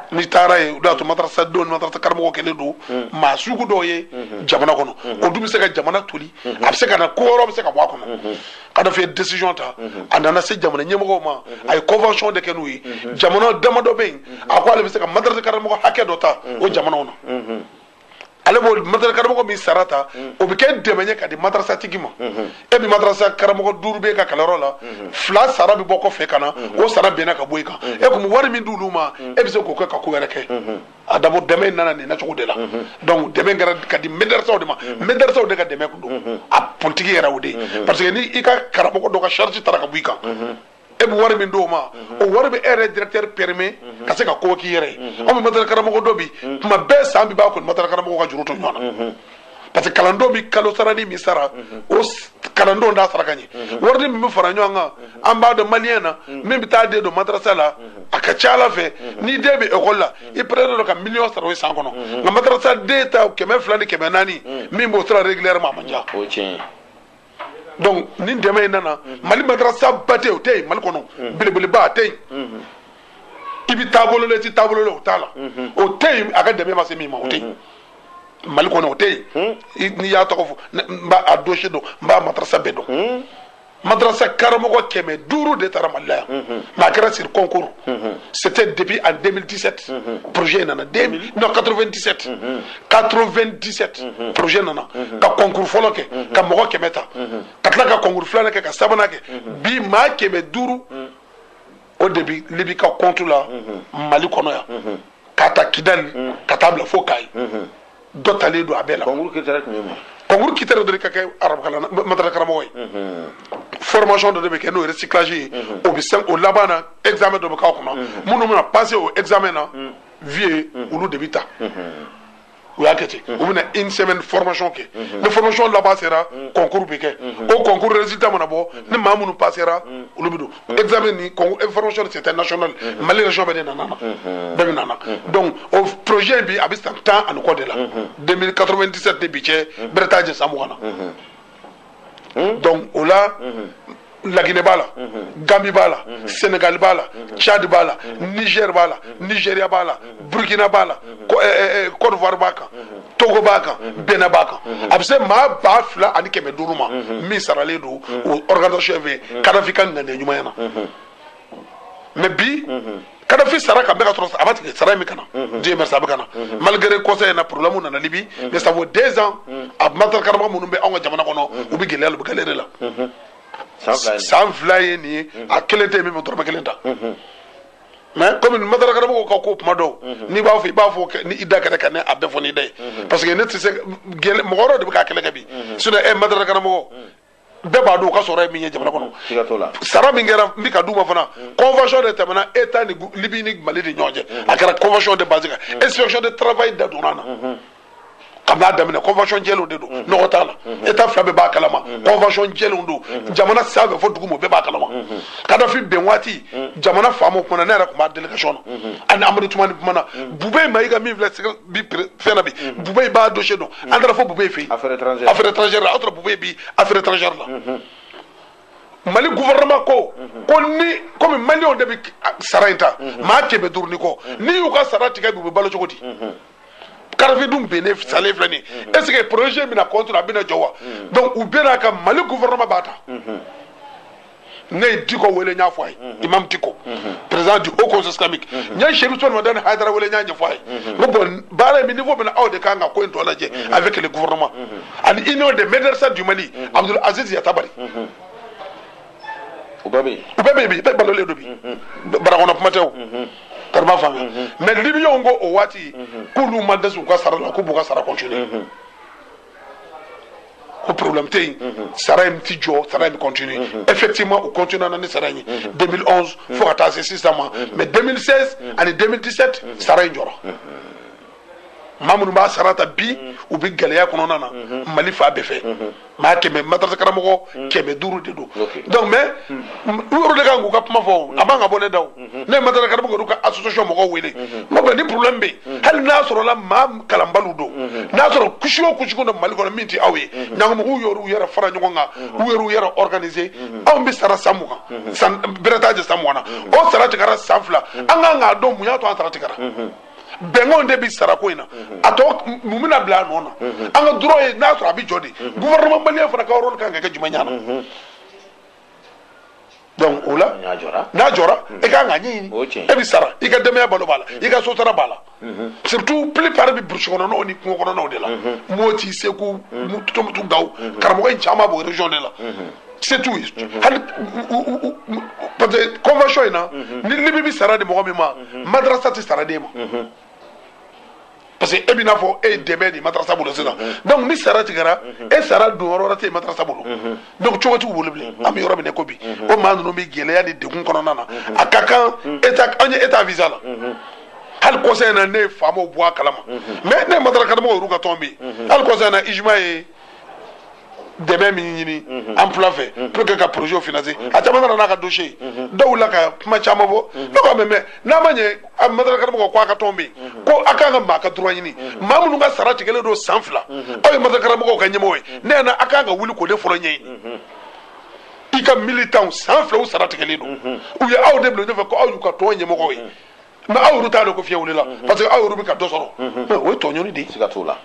n'i taar'a ye o de y'a to madarasa denw ni madarasa karamɔgɔw kɛlen don maa sugu dɔw ye jamana kɔnɔ o dun bɛ se ka jamana toli a bɛ se ka na ko wɛrɛw bɛ se ka bɔ a kɔnɔ kadafi ye décision ta a nana se jamana ɲɛmɔgɔw ma a ye convention de kɛ n'u ye jamana damadɔ bɛ yen a ko ale bɛ se ka madarasa karamɔgɔ hakɛ dɔ ta o jamanaw na ale b'o madrasa karamɔgɔ min sara ta mm. o bɛ kɛ dɛmɛ ye ka di madrasa tigi ma mm-hmm. e bɛ madrasa karamɔgɔ duuru b'e ka kalanyɔrɔ la mm-hmm. fila sara bɛ bɔ kɔfɛ ka na mm-hmm. o sara binna ka bɔ i kan e kun bɛ wari min d'olu ma e bɛ se k'o kɛ ka ko wɛrɛ kɛ a dabɔ dɛmɛ in nana nin nacogo de la donc dɛmɛ kɛra ka di madrasaw de ma madrasaw de ka dɛmɛ kun don a politiki yɛrɛ o de ye parce que ni i ka karamɔgɔ dɔ ka charge tara ka bɔ i kan e bɛ wari min d'o ma o wari bɛ e yɛrɛ directeur permet ka se ka ko k'i yɛrɛ ye anw bɛ madarasa karamɔgɔ dɔn bi tuma bɛɛ san bɛ ban kɔni madarasa karamɔgɔw ka juru to ɲɔgɔn na parce que kalandenw bɛ kalo sarani min sara o kalandenw t'a sara ka ɲɛ wari min bɛ fara ɲɔgɔn kan an b'a dɔn maliyɛn na min bɛ taa den don madarasa la a ka c'a la fɛ ni den bɛ ekɔli la i pɛrɛlen don ka miliyɔn sara o ye san kɔnɔ nka madarasa den ta kɛmɛ fila ni kɛmɛ naani min b'o sara régulièrement a man ca. donc ni dɛmɛ in nana mali madarasaba tɛ yen o tɛ yen mali kɔnɔ belebeleba a tɛ yen i bɛ taabolo la i tɛ taabolo la o t'a la o tɛ yen a ka dɛmɛ ma se min ma o tɛ yen mali kɔnɔ o tɛ yen n'i y'a tɔgɔ fɔ n b'a dossier dɔn n b'a madarasa bɛɛ dɔn madarasa karamɔgɔ kɛmɛ duuru de tara mali la yan mais a kɛra sur concours c'était depuis en 2017 projet in nana non 1997 97 mhm. projet nana mhm. ka concours fɔlɔ kɛ mhm. ka mɔgɔ kɛmɛ ta ka tila ka concours filanan kɛ ka sabanan kɛ bi maa kɛmɛ duuru o de bi libi ka compte la mali kɔnɔ yan ka ta kidali ka taa bila fo kayi dɔ talen don a bɛɛ la concours critère tun ye mun concours critère don i ka kɛ arabukalan madarasa karamɔgɔ ye formation dɔ de bɛ kɛ n'o ye recyclage ye o bɛ sen o laban na examen dɔ bɛ k'a kɔnɔ minnu bɛna passer o examen na vie olu de bɛ ta u y'a kɛ ten u bɛna une semaine formation kɛ ni formation laban sera concours bɛ kɛ o concours résultat mana bɔ ni maa minnu passera olu bɛ don examen ni formation c'était national Mali région bɛɛ de nana na bɛɛ bɛ nana donc o projet in bi a bɛ san tan ani kɔ de la 2097 ni bi cɛ bɛrɛ t'a jɛ san mugan na. Hmm? donc o la hmm. laginɛ b'a la hmm. gambi b'a la senegali b'a la tchad b'a la niger b'a la nigeria b'a la burkina b'a la cote eh, eh, eh, d'ivoire b'a kan togo b'a kan benin b'a kan a bɛ se maa ba fila ani kɛmɛ duuru ma min saralen don o organisation fɛ kadafi ka ŋaniya ɲumanya na mais bi kadafi sara nka an bɛ k'a sɔrɔ a ma tigɛ sara bɛ ka na dieu merci a bɛ ka na malgré kɔsa in na problème nana libi mais ça vaut deux ans a madarasa karamɔgɔ minnu bɛ anw ka jamana kɔnɔ u bɛ gɛlɛya la u bɛ galère la san fila ye nin ye a kelen tɛ même dɔrɔmɛ kelen ta mais kɔmi madarasa karamɔgɔ ka ko kuma don n'i b'a fɔ i b'a fɔ ni i da kɛnɛ ka ne a bɛɛ fɔ n'i da ye parce que ne tɛ se mɔgɔ de bɛ ka kɛlɛ kɛ bi sinon e madarasa karamɔgɔ bɛɛ b'a dɔn u ka sɔrɔ ye min ye jamana kɔnɔ siga t'o la sara min kɛra n bɛ ka d'u ma fana mm. convention de tɛmɛna état ni libi ni mali ni ɲɔgɔn cɛ mm-hmm. a kɛra convention de base kan mm-hmm. inspection de travail da donna na mm-hmm. k'an bɛn'a daminɛ convention jɛlenw de don nɔgɔ t'a la état fila bɛɛ b'a kalama convention jɛlenw don jamana sanfɛ fo duguma bɛɛ b'a kalama kadafi bin waati jamana faama kumana ne yɛrɛ tun b'a delegation na an ni amadu tumani kumana bube mayiga min filɛ bi fɛn na bi bube b'a dossier dɔn an taara fo bube fɛ yen affaire étrangère affaire étrangère la aw taara bube bi affaire étrangère la mali gouvernement ko ko ni komi maliyɛnw de bɛ sara in ta maa kɛmɛ duuru ni kɔ n'i y'u ka sara tigɛ bi u bɛ balo cogo di kadafi dun binna salen filɛ nin ye est ce que projet bɛna continuer a bɛna jɔ wa donc u bɛnn'a kan mali gouvernement b'a ta ne ye diko wele n y'a fɔ a ye mhm. imam diko mhm. président du haut conseil islamique mhm. n ye sherif usumani madani haidara wele n y'a ɲɛfɔ a ye n ko bɔn baara bɛ niveau min na aw de ka kan ka ko in tɔ lajɛ avec le gouvernement ani union des medersas du mali abdul aziz yatabare u bɛɛ bɛ yen u bɛɛ bɛ yen bi bɛɛ balolen don bi bara kɔnɔ kuma tɛ o kariba faamuya mais libiyaw ko o waati k'olu ma dɛsɛ u ka sara la k'u b'u ka sara continuer ko problème tɛ yen sara in ti jɔ sara in bɛ continuer effectivement u continuer na ni sara in ye 2011 fo ka taa se sisan ma mais 2016 ani 2017 sara in jɔra maa minnu b'a sara ta bi u bɛ gɛlɛya kɔnɔna na mali fan bɛɛ fɛ maa kɛmɛ matarasa karamɔgɔ kɛmɛ duuru de don donc mais u yɛrɛ de kan k'u ka kuma fɔ o a man ka bɔ ne da o mhm. ne matarasa karamɔgɔw ka association mɔgɔw wele mhm. n ko ni problème bɛ yen hali n'a sɔrɔla maa kalanbaliw don n'a sɔrɔ couche o couche don mali kɔnɔ min tɛ aw ye ɲɔgɔn mɔgɔw y'olu yɛrɛ fara ɲɔgɔn kan u y'olu yɛrɛ organiser anw bɛ sara san mugan san bɛrɛ t'a jɛ san mugan na o sara tigɛra san fila an kan k'a dɔn mun y'a to an sara tigɛra bɛnkanw de bi sarako in na a tɔ mun bɛna bila a nɔ na an ka droit ye n'a sɔrɔ a bɛ jɔ de gouvernement malien fana ka rôle kan ka kɛ jumɛn y'a la donc o la n'a jɔra n'a jɔra i ka kan k'a ɲɛɲini O ye tiɲɛ ye. e bɛ sara i ka denbaya balo b'a la i ka so sara b'a la surtout plupart bɛ burusi kɔnɔnaw ni kungo kɔnɔnaw de la moti segu tumutu gawo karamɔgɔ in caman b'o région de la se t'u ye hali u- u- u- u- parce que convention in na ni libi bɛ sara di mɔgɔ min ma madrasa tɛ sara d'e ma parce que e bɛ n'a fɔ e ye dɛmɛ de matarasa bolo sisan donc ni sara tigɛra e sara don yɔrɔ wɛrɛ tɛ matarasa bolo donc cogo t'u bolo bilen an bɛ yɔrɔ min na ko bi o maa ninnu bɛ gɛlɛya ni degun kɔnɔna na a ka kan état an ye état visa la hali kɔsa in na ne ye faamaw bɔ a kalama mais ne ye matarasa karamɔgɔ yɛrɛ ka tɔn bɛ yen hali kɔsa in na ujmma ye dɛmɛ min ɲini emploi fɛ pour que ka projet financer a caman nana n'a ka dossier dɔw la ka kuma caman fɔ ne ko même n'a ma ɲɛ a matarasa karamɔgɔ ko a ka tɔn bɛ yen ko a kan ka maa ka droit ɲini maa minnu ka sara tigɛlen don san fila aw ye matarasa karamɔgɔw ka ɲɛmɔgɔ ye ne ɲɛ na a kan ka wuli k'o de fɔlɔ ɲɛɲini i ka militanw san filaw sara tigɛlen don u ye aw de bila ɲɛfɛ ko aw y'u ka tɔn ɲɛmɔgɔ ye mais aw yɛrɛ t'a dɔn ko fiɲɛ wulila mhm. parce que aw yɛrɛ bɛ ka dɔ sɔrɔ mhm. mais o ye tɔɲɔni de ye siga t'o la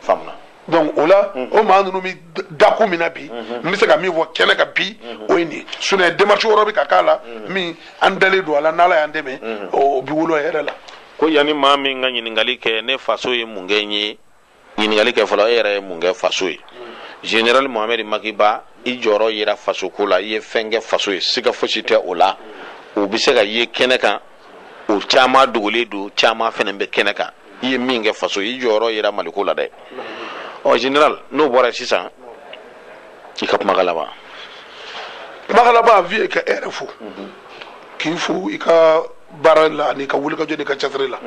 faamuna donc o la mhm. o maa ninnu bɛ dakun min na bi n bɛ se ka min fɔ kɛnɛ kan bi o ye nin ye sinon démarche wɛrɛ bɛ ka k'a la min an dalen don a la n'ala y'an dɛmɛ o bi wolo hɛrɛ la ko yanni maa min ka ɲininkali kɛ ne faso ye mun kɛ n ye ɲininkali kɛ fɔlɔ e yɛrɛ ye mun kɛ faso ye général mohamed maki ba i jɔyɔrɔ yera fasoko la i ye fɛn kɛ faso ye siga fosi tɛ o la o bɛ se ka ye kɛnɛ kan o caman dogolen don caman fana bɛ kɛnɛ kan i ye min kɛ faso ye i jɔyɔrɔ yera maliko la dɛ en général n'o bɔra sisan i ka kumakan laban kumakan laban vieux ka e yɛrɛ fo k'i fo i ka baara la an'i ka wulikajɔ n'i ka cɛsiri la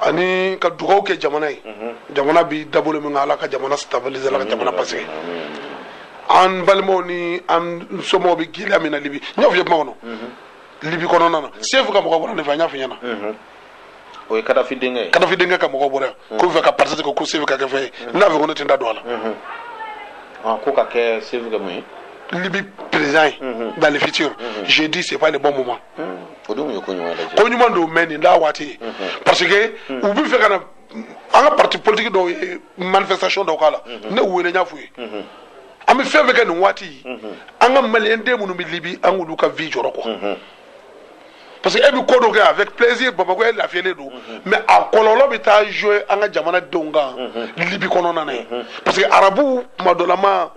ani ka dugaw kɛ jamana ye jamana bi dabolo min kan ala ka jamana stabiliser ala ka jamana basigi an balimaw ni an somɔgɔw bɛ gɛlɛya min na libi n y'o fɔ i ye kuma kɔnɔ libi kɔnɔna na sefu ka mɔgɔ bɔra ne fɛ an y'a fɔ i ɲɛna o ye kadafi denkɛ ye kadafi denkɛ ka mɔgɔ bɔra yan k'u fɛ ka parti ko ko sefu ka kɛ fɛn ye n y'a fɔ ko ne tɛ n da don a la Ah, ko ka kɛ sefu ka mun ye libi président ye dans le futur je dis c'est pas le bon moment ko ɲuman don mais nin t'a waati ye parce que u bɛ fɛ ka na an ka parti politique dɔw ye manifestation dɔw k'a la ne wele n y'a f'u ye an bɛ fɛn o fɛn kɛ nin waati an ka maliyɛn den minnu bɛ libi an k'olu ka vie jɔrɔ quoi parce que e bɛ ko dɔ kɛ avec plaisir bamakɔ e lafiyalen don mais a kɔlɔlɔ bɛ taa jouer an ka jamana denw kan libi kɔnɔna na yen parce que arabuw tuma dɔlama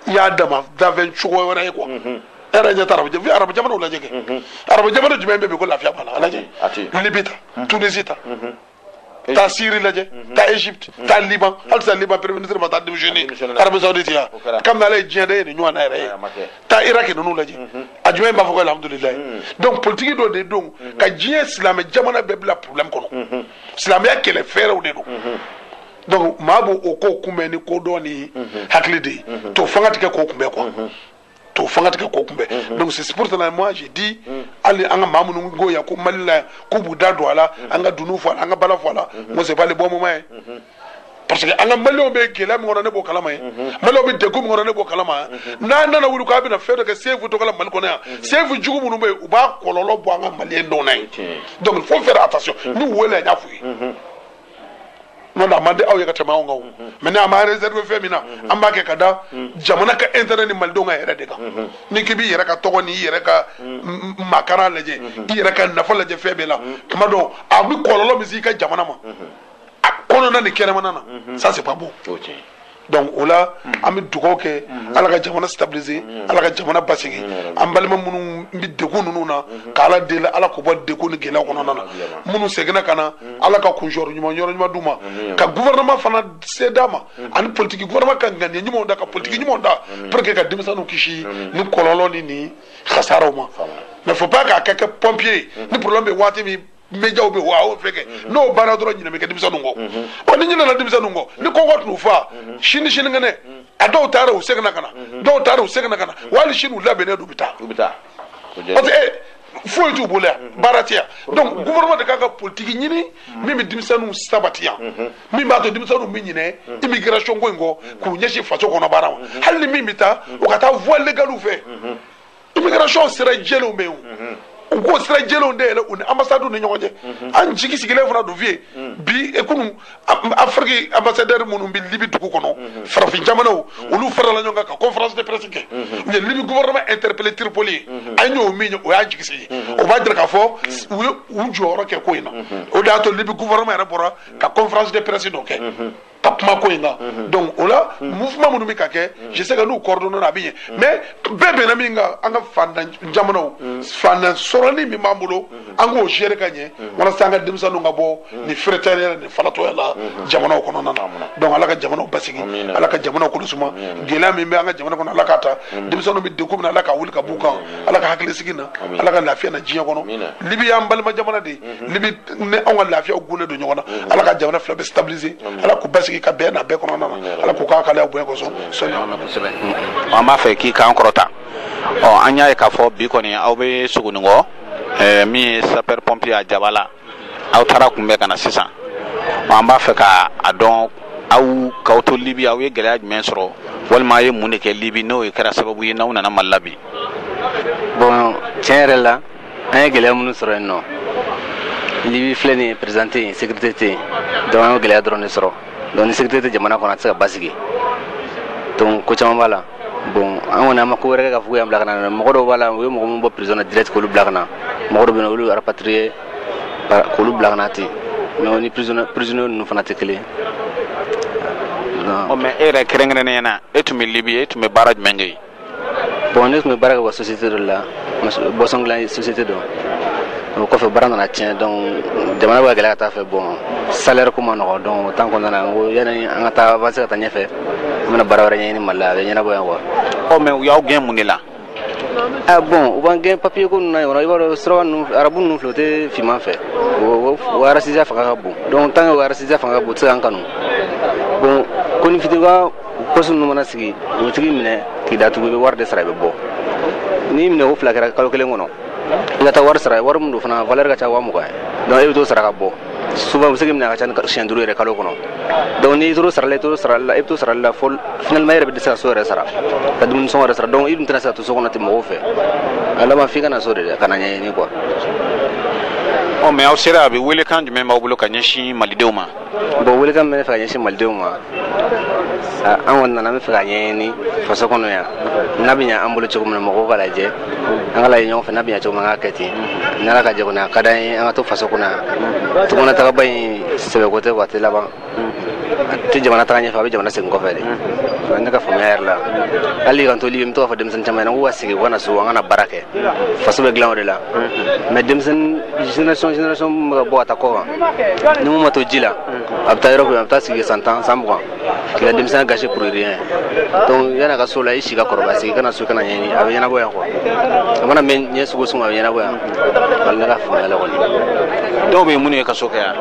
i y'a dama danfɛn sugu wɛrɛ ye quoi mhm. e yɛrɛ ye taa arabu mhm. arabu jamanaw lajɛ kɛ arabu jamana jumɛn bɛ bi ko lafiya b'a la a lajɛ libi ta mhm. tunisi ta taa siri lajɛ taa egypte taa liban halisa liban premier ministre ma taa démissionner arabie saoudite yan kabini ala ye diɲɛ da ye nin ɲɔgɔn na e yɛrɛ ye taa iraki ninnu lajɛ a jumɛn b'a fɔ ko alhamdulilayi donc politiki dɔ de don ka diɲɛ silamɛ jamana bɛɛ bila problème kɔnɔ silamɛya kɛlɛ fɛɛrɛw de don donc maa b'o o ko kunbɛn ni kodɔn ni hakili de ye to fanga tɛ kɛ k'o kunbɛn quoi to fanga tɛ kɛ k'o kunbɛn donc c'est pour cela moi je dis hali an ka maa minnu ko yan ko Mali la yan k'u b'u da don a la an ka dunun fɔ a la an ka bala fɔ a la moi c'est pas le bon moment ye parce que an ka maliyɛnw bɛ gɛlɛya min kɔnɔ ne b'o kalama ye maliyɛnw bɛ degun min kɔnɔ ne b'o kalama yan n'a nana wuli k'a bɛna fɛn dɔ kɛ sefu tɔgɔ la mali kɔnɔ yan sefu jugu minnu bɛ yen u b'a kɔlɔlɔ bɔ an ka maliyɛn dɔw la yen donc il faut faire attention ne welela n y'a f'u ye n'o tɛ a man di aw ye ka tɛmɛ anw kan o maintenant an ma réserver fɛn min na an b'a kɛ ka da jamana ka intérêt ni malidenw ka hɛrɛ de kan n'i k'i b'i yɛrɛ ka tɔgɔ ni i yɛrɛ ka makara lajɛ i yɛrɛ ka nafa lajɛ fɛn bɛɛ la tuma dɔw a bɛ kɔlɔlɔ min se i ka jamana ma a kɔnɔna ni kɛnɛmana na ça c'est pas bon. donc o la an bɛ dugawu kɛ ala ka jamana stabiliser ala ka jamana basigi an balima minnu bɛ degun ninnu na ka ala deli ala k'u bɔ degun ni gɛlɛya kɔnɔna na minnu seginna ka na ala ka kuncɛyɔrɔ ɲuman yɔrɔ ɲuman d'u ma ka gouvernement fana se d'a ma ani politiki gouvernement ka ŋaniya ɲumanw da ka politiki ɲumanw da pour que ka denmisɛnninw kisi nin kɔlɔlɔ ni nin kasaraw ma mais faut pas k'a ka kɛ pompier ye ni problème bɛ waati min médiaw bɛ wa aw fɛn kɛ mhm. n'o banna dɔrɔn ɲinɛ bɛ kɛ denmisɛnninw kɔ mhm. wa ni ɲinɛna denmisɛnninw kɔ ni kɔngɔ tun fa mhm. sini sinikɛnɛ a dɔw taara u seginna ka na dɔw taara u seginna ka na wali sini u labɛnnen don u bɛ taa parce que eh, foyi t'u bolo yan baara tɛ yan donc gouvernement de kan ka politiki ɲini min bɛ denmisɛnninw sabati yan min b'a to denmisɛnninw bɛ ɲinɛ immigration ko in kɔ k'u ɲɛsin faso kɔnɔ baara ma hali ni min bɛ taa o ka taa voie légale fɛ immigration sira jɛlenw bɛ yen u k'o sira jɛlenw dayɛlɛ u ni ambassades ni ɲɔgɔn cɛ an jigi sigilen fana don vie bi e kunu afiriki ambassadeur minnu bɛ libi dugu kɔnɔ farafin jamanaw olu farala ɲɔgɔn kan ka conférence de presse kɛ u ye libi gouvernement interpellé tripoli yen an y'o min ye o y'an jigi sigi o b'a jira k'a fɔ u ye u jɔyɔrɔ kɛ ko in na o de y'a to libi gouvernement yɛrɛ bɔra ka conférence de presse dɔ kɛ ka kuma ko in kan mhm. donc o la mhm. mouvement minnu bɛ ka kɛ mhm. je sais que n'u coordonnéna a bɛ ɲɛ mais bɛɛ bɛnna min kan an ka fantan jamanaw fantan sɔrɔnin min b'an bolo an k'o gérer ka ɲɛ walasa an ka denmisɛnninw ka bɔ nin feretɛrɛya nin falatɔya la jamanaw kɔnɔna na donc ala ka jamanaw basigi ala ka jamanaw kolo suma gɛlɛya min bɛ an ka jamana kɔnɔ ala k'a ta denmisɛnninw bɛ degun min na ala k'a wuli ka b'u kan ala ka hakilisigi na ala ka lafiya na diɲɛ kɔnɔ libi y'an balima jamana de ye libi ni anw ka lafiya tugunnen don ɲɔgɔn na ala ka jamana fila bɛɛ stabiliser ala k'u basigi ka bɛn na bɛɛ kɔnɔna na ala k'u k'a kalaya bonya kosɔn sɔni an b'a fɛ k'i kan kɔrɔta ɔ an y'a ye k'a fɔ bi kɔni aw bɛ sogoninko eh, min ye sapeur pompier a jaba la aw taara kunbɛn ka na sisan ɔ an b'a fɛ ka a dɔn aw k'aw to libi aw ye gɛlɛya jumɛn sɔrɔ walima a ye mun de kɛ libi n'o ye kɛra sababu ye n'aw nana mali la bi bon tiɲɛ yɛrɛ la an ye gɛlɛya minnu sɔrɔ yen nɔ libi filɛ nin ye président tɛ yen sekirite tɛ yen donc an y'o gɛlɛya dɔrɔn de sɔrɔ donc ni sekirite tɛ jamana kɔnɔ a tɛ se ka basigi donc ko caman b'a la bon an kɔni an ma ko wɛrɛ kɛ k'a fɔ k'o y'an bila ka na mɔgɔ dɔw b'a la u ye mɔgɔ minnu bɔ prison na direct k'olu bila ka na mɔgɔ dɔw bɛ yen olu rapatriye k'olu bila ka na ten mais an ni prisonnier ninnu fana tɛ kelen mais e yɛrɛ kɛrɛnkɛrɛnnenya na e tun bɛ libi e tun bɛ baara jumɛn kɛ yen bon ne tun bɛ baara kɛ wa société dɔ la boisson dilan société dɔ o kɔfɛ baara nana tiɲɛ donc jamana bɛ ka gɛlɛya ka t'a fɛ bon salaire ko ma nɔgɔ donc o temps kɔnɔna n ko yanni an ka taa avancer ka taa ɲɛfɛ an bɛna baara wɛrɛ ɲɛɲini mali la a bɛ ɲɛnabɔ yan quoi ɔ mais u y'aw gɛn mun de la Ah bon, u b'an gɛn papier ko ninnu na yɔrɔ i b'a dɔn suraka ninnu arabu ninnu filɛ u tɛ finman fɛ o racisteya fanga ka bon donc tant que o racisteya fanga ka bon u tɛ se k'an kanu bon konin fitinin polisi ninnu bɛna sin k'o tigi minɛ k'i datugu i bɛ wari de sara i bɛ bɔ n'i minɛ ko fila kɛra kalo kelen kɔnɔ i ka taa wari sara wari min don fana valeur ka ca waa mugan ye donc e bɛ t'o sara ka bɔ souvent u bɛ se k'i minɛ ka ca ni siɲɛ duuru yɛrɛ kalo kɔnɔ donc n'i tor'o sarali la i tor'o sarali la i bɛ t'o sarali la fo finalement e yɛrɛ bɛ dɛsɛ ka so yɛrɛ sara ka dumuni sɔngɔ yɛrɛ sara donc i dun tɛna se ka to so kɔnɔ ten mɔgɔw fɛ a laban f'i ka na so yɛrɛ ka na ɲɛɲini quoi ɔ mais aw sera a bɛ welekan jumɛn b'aw bolo ka ɲɛsin malidenw ma bon welekan bɛ ne fɛ ka ɲɛsin malidenw ma an kɔni nana an bɛ fɛ ka ɲɛɲini faso kɔnɔ yan n'a bɛ ɲɛ an bolo cogo min na mɔgɔw k'a lajɛ an k'a lajɛ ɲɔgɔn fɛ n'a bɛ ɲɛ cogo min na an k'a kɛ ten ni ala ka jɛ kɔni a ka d'an ye an ka to faso kɔnɔ yan tunga na tagaba in sɛbɛko tɛ wa a tɛ laban a tɛ jamana taga ɲɛfɛ a bɛ jamana segin kɔfɛ de o ye ne ka faamuya yɛrɛ la hali k'an to libi n bɛ to k'a fɔ denmisɛnnin caman ɲɛna k'u ka segin u ka na so an ka na baara kɛ faso bɛ dilan o de la mais denmisɛnnin génération génération bɛ ka bɔ ka taa kɔkan ni min ma to ji la a bɛ taa yɔrɔ min a bɛ taa sigi san tan san mugan k'i ka denmisɛnya gâché pour rien donc yan'a ka so la i si ka kɔrɔbaya segin ka na so ka na ɲɛɲini a bɛ ɲɛnabɔ yan quoi a mana mɛn ɲɛ sugu sugu a bɛ ɲɛnabɔ yan voilà ne ka faamuya la kɔni dɔw bɛ yen minnu ye kaso kɛ yan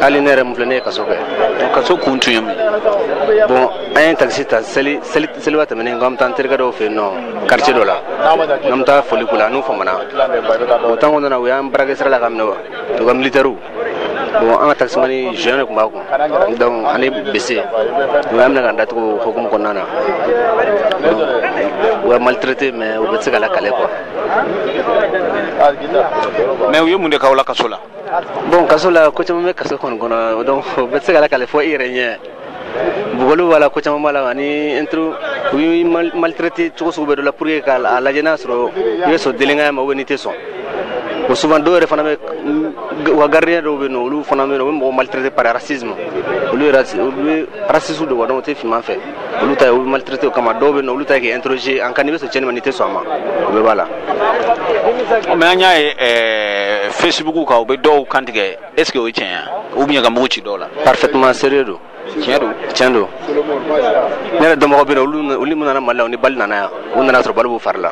hali ne yɛrɛ min filɛ ne ye kaso kɛ donc kaso kun tun ye mun ye bon an ye takisi ta seli seli seliba tɛmɛnen ko an bɛ taa an terikɛ dɔw fɛ yen nɔ quartier dɔ la n'an bɛ taa foli k'u la n'u famana o temps kɔnɔna na u y'an braqué sira la k'an minɛ quoi u ka militɛriw bon an ka takisimani jeune de tun b'a kun donc ani bese u y'an minɛ k'an datugu hukumu kɔnɔna na u b'an maltraité mais o bɛɛ tɛ se ka lakale quoi mais u ye mun de k'aw la kaso la bon kaso la ko caman bɛ kaso kɔni kɔnɔ donc o bɛɛ tɛ se ka lakale fo i yɛrɛ ɲɛ bugɔliw b'a la ko caman b'a la ani intro u y'i maltraité cogo sugu bɛɛ dɔ la pour que k'a lajɛ n'a sɔrɔ i bɛ sɔn delenkanya ma ou bien n'i tɛ sɔn o souvent dɔw yɛrɛ fana bɛ u ka gardien dɔw bɛ yen nɔ olu fana bɛ yen nɔ u bɛ mɔgɔ maltraité par racisme olu yɛrɛ olu bɛɛ raciste don quoi donc u tɛ finman fɛ olu ta ye u b'i maltraité o kama dɔw bɛ yen nɔ olu ta ye k'i interroger a kan n'i bɛ sɔn tiɲɛni ma n'i tɛ sɔn a ma o bɛɛ b'a la. mais an y'a ye ɛɛ facebook kan u bɛ dɔw kantigɛ. est ce que o ye tiɲɛ ye ou bien ka mugu ci dɔw la parfaitement sérieux don tiɲɛ don tiɲɛ don ne yɛrɛ dɔnbagaw bɛ yen olu minnu nana mali la u ni bali nana yan u nana sɔrɔ bali b'u fari la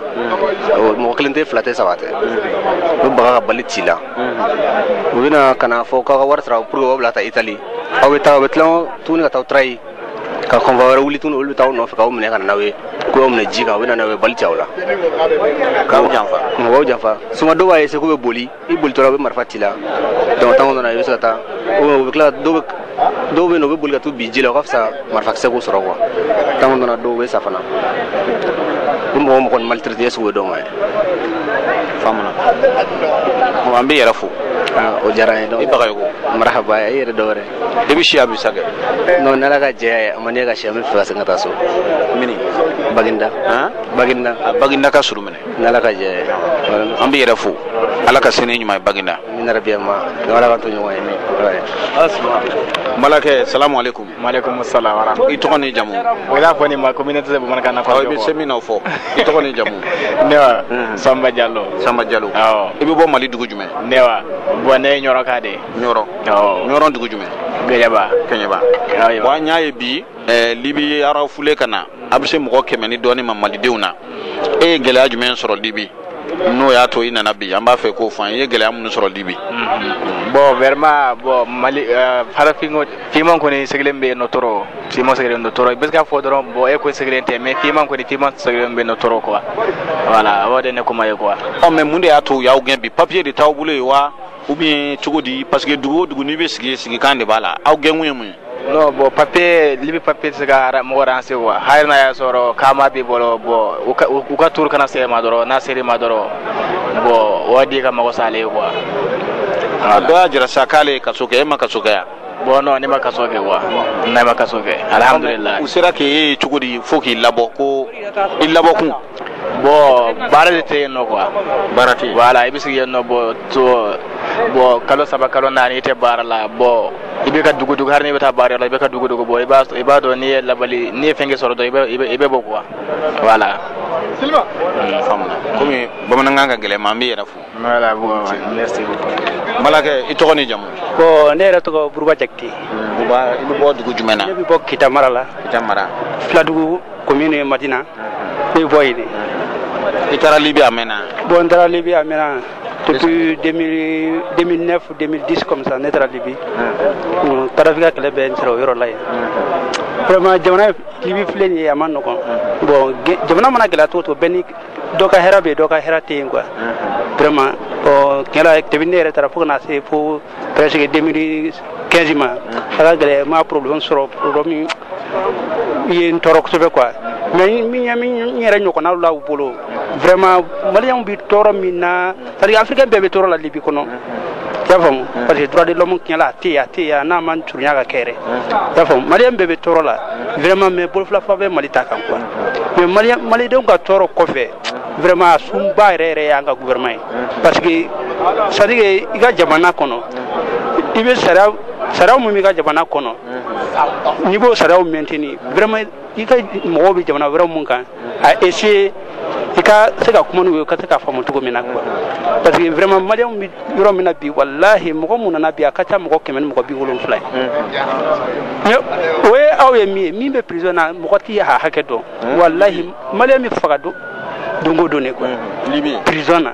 mɔgɔ kelen tɛ fila tɛ saba tɛ u bɛ baga ka bali c'i la u bɛna ka na fɔ k'aw ka wari sara pour que aw bila ka taa itali aw bɛ taa aw bɛ tila tuguni ka taa trahi ka convoi wɛrɛ wuli tuguni olu bɛ taa aw nɔfɛ k'aw minɛ ka na n'aw ye k'u y'aw minɛ ji kan u bɛ na n'aw ye bali ci aw la k'aw janfa mɔgɔw janfa souvent dɔw b'a essayer k'u bɛ boli i bolitɔ la u bɛ marifa c'i la donc temps kɔnɔna na i bɛ se ka taa u bɛ tila dɔw bɛ dɔw bɛ yen nɔ u bɛ boli ka t'u bin ji la o ka fisa marifakisɛ k'u sɔrɔ quoi temps kɔnɔna na dɔw bɛ sa fana u bɛ mɔgɔ mɔgɔ ni maltraité sugu bɛɛ dɔn ye faamuna an b'i yɛrɛ fo Ah, o diyara n ye donc i bagayogo marahaba i yɛrɛ dɔ wɛrɛ i bɛ si yan bi sa kɛ non n'ala ka jɛya ye a man di n ye ka si yan n bɛ fɛ ka segin ka taa so mini baginda baginda a baginda ka surun minɛ n'ala ka jɛ an b'i yɛrɛ fo ala ka sini ɲuman ye bagina amiina yarabi amiina ala k'an to ɲɔgɔn ye balimakɛ salamu aleykum maaleykum salam wara i tɔgɔ ni jamu o y'a fɔ ni ma communauté de bamanankan na i bɛ se min na o fɔ i tɔgɔ ni jamu ne wa hmm. samba jalo samba jalo awɔ i bɛ bɔ mali dugu jumɛn ne wa bon ne ye ɲɔrɔka de ɲɔrɔ awɔ ɲɔrɔ dugu jumɛn kɛɲɛba kɛɲɛba bon an y'a ye bi eh, libi refoulés ka na a bɛ se mɔgɔ kɛmɛ ni dɔɔnin ma malidenw na e ye gɛlɛya jumɛn sɔrɔ libi n'o y'a to i nana bi an b'a fɛ k'o fɔ an ye gɛlɛya minnu sɔrɔ libi bon vraiment bon mali euh, farafin fiman kɔni sɛgɛnnen bɛ yen nɔ trop fiman sɛgɛnnen don trop i bɛ se ka fɔ dɔrɔn bon e kɔni sɛgɛnnen tɛ mais fiman kɔni fiman sɛgɛnnen bɛ yen nɔ trop quoi voilà o de ne kuma ye quoi ɔ mais mun de y'a to u y'aw gɛn bi papier de t'aw bolo yen wa ou bien cogo di parce que dugu o dugu n'i bɛ sigi sigikan de b'a la aw gɛnkun ye mun ye non bon papier libi papier tɛ se ka mɔgɔ arranger quoi hali n'a y'a sɔrɔ kaama b'i bolo bon u ka tour kana se i ma dɔrɔn n'a ser'i ma dɔrɔn bon wari ka mago sa ale ye quoi a dɔ y'a jira sa k'ale ye kaso kɛ e ma kaso kɛ yan Bon non ne ma kaso kɛ quoi ne ma kaso kɛ alhamdulila u sera k'e ye cogo di fo k'i labɔ ko i labɔkun bon baara de tɛ yen nɔ quoi baara tɛ yen voilà i bɛ sigi yen nɔ bon to bon kalo saba kalo naani i tɛ baara la bon i bɛ ka dogo dogo hari n'i bɛ taa baara yɔrɔ la i bɛ ka dogo dogo bon i b'a i b'a dɔn n'i ye labali n'i ye fɛnkɛ sɔrɔ dɔrɔn i bɛ i bɛ i bɛ bɔ quoi voilà Siliba, un, n faamuna komi bamanankan ka gɛlɛn i ma an b'i yɛrɛ fo Voilà, bon, ouais, merci beaucoup. Balimakɛ, i tɔgɔ ni jamu? Bon, ne yɛrɛ tɔgɔ Buruba Jakite. Buruba, i bɛ bɔ dugu jumɛn na? Ne bɛ bɔ Kita mara la. Kita mara. Filadugu commune ye Madina. Ne bɛ bɔ yen de. I taara Libi a mɛnna? Bon, n taara Libi a mɛnna. Depuis 2000, 2009 ou 2010 comme ça, ne taara Libi. Kadhafi ka kɛlɛ bɛ n sɔrɔ o yɔrɔ la yen. Vraiment jamana Libi filɛ nin ye a man nɔgɔn. Bon, jamana mana gɛlɛya cogo o cogo bɛɛ ni dɔ ka hɛrɛ bɛ dɔ ka hɛrɛ tɛ yen quoi vraiment ɔ tiɲɛ la depuis ne yɛrɛ taara fo ka na se fo presque 2015 ma a ka gɛlɛn n ma problème sɔrɔ problème ye n tɔɔrɔ kosɛbɛ quoi mais min ye min n yɛrɛ ɲɔgɔnnaw la u bolo vraiment maliyɛnw bɛ tɔɔrɔ min na c'est à dire afirikɛn bɛɛ bɛ tɔɔrɔ la libi kɔnɔ y'a faamu parce que droit de l'homme tiɲɛ la a tɛ yen a tɛ yen a ma surunya ka kɛ yɛrɛ y'a faamu maliyɛn bɛɛ bɛ tɔɔrɔ la vraiment mais bolo fila fa bɛ mali ta kan quoi mais maliyɛn malidenw ka tɔɔrɔ kɔfɛ vraiment a sunba yɛrɛ yɛrɛ y'an ka gouvernement ye parce que c'est à dire que i ka jamana kɔnɔ i bɛ sariya sariya min b'i ka jamana kɔnɔ n'i b'o sariyaw maintenir vraiment i ka mɔgɔw bɛ jamana wɛrɛ min kan a essayer i ka se ka kuma n'u ye ka se k'a faamu cogo min na quoi parce que vraiment maliyɛnw bɛ yɔrɔ min na bi walahi mɔgɔ mun nana bi a ka ca mɔgɔ kɛmɛ ni mɔgɔ bi wolonfila ye o ye aw ye min ye min bɛ prison na mɔgɔ ti a hakɛ dɔn walahi maliyɛn bɛ faga don don o don de quoi prison na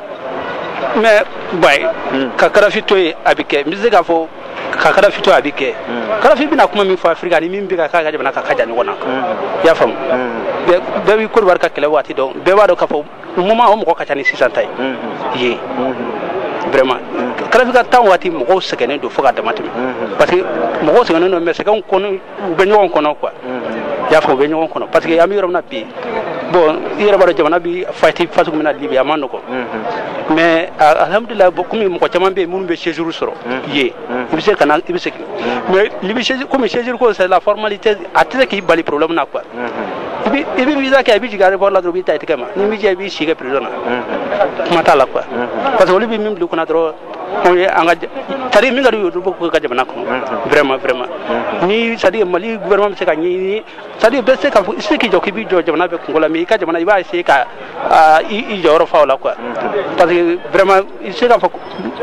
mais ba ye hmm. ka kadafi to yen a bɛ kɛ n bɛ se k'a fɔ ka kadafi to yen a bɛ kɛ hmm. kadafi bɛna kuma min fɔ afirika ni min bɛ ka k'a ka jamana kan ka jan ɲɔgɔn na hmm. i y'a faamu bɛɛ bi kodiwari ka kɛlɛ waati dɔn bɛɛ b'a dɔn k'a fɔ moment o mɔgɔ ka ca ni sisan ta ye yen vraiment kadafi ka temps waati mɔgɔw sɛgɛnnen don fo ka damatɛmɛ parce que mɔgɔw sɛgɛnnen don mais sɛgɛn kɔnɔ u bɛ ɲɔgɔn kɔnɔ quoi i y'a fɔ u bɛ ɲɔgɔn kɔnɔ parce que an bɛ yɔrɔ min na bi bon i yɛrɛ b'a dɔn jamana bi fati façon min na libi a man nɔgɔ mais alihamudulila comme mɔgɔ caman bɛ yen minnu bɛ séjour sɔrɔ yen i bɛ se ka na i bɛ segin mais libi comme séjour ko c'est la formalité a tɛ se k'i bali problème na quoi i bɛ visa kɛ i bɛ jigin aéroport la dɔrɔn u b'i ta i tɛgɛ ma n'i m'i jija i b'i si kɛ prison na kuma t'a la quoi parce que olu bɛ min bila u kunna dɔrɔn tari min ka y'o dugu ka jamana kɔnɔ vma vma ni sa mali vma bɛ se ka ɲɛ sa bɛ se ka se k'i jɔ k'i bɛ jɔ jamana bɛ kungo la min i ka jamana i b'a se ka i jɔyɔrɔ fa la kuwa parce que vma i se k'a fɔ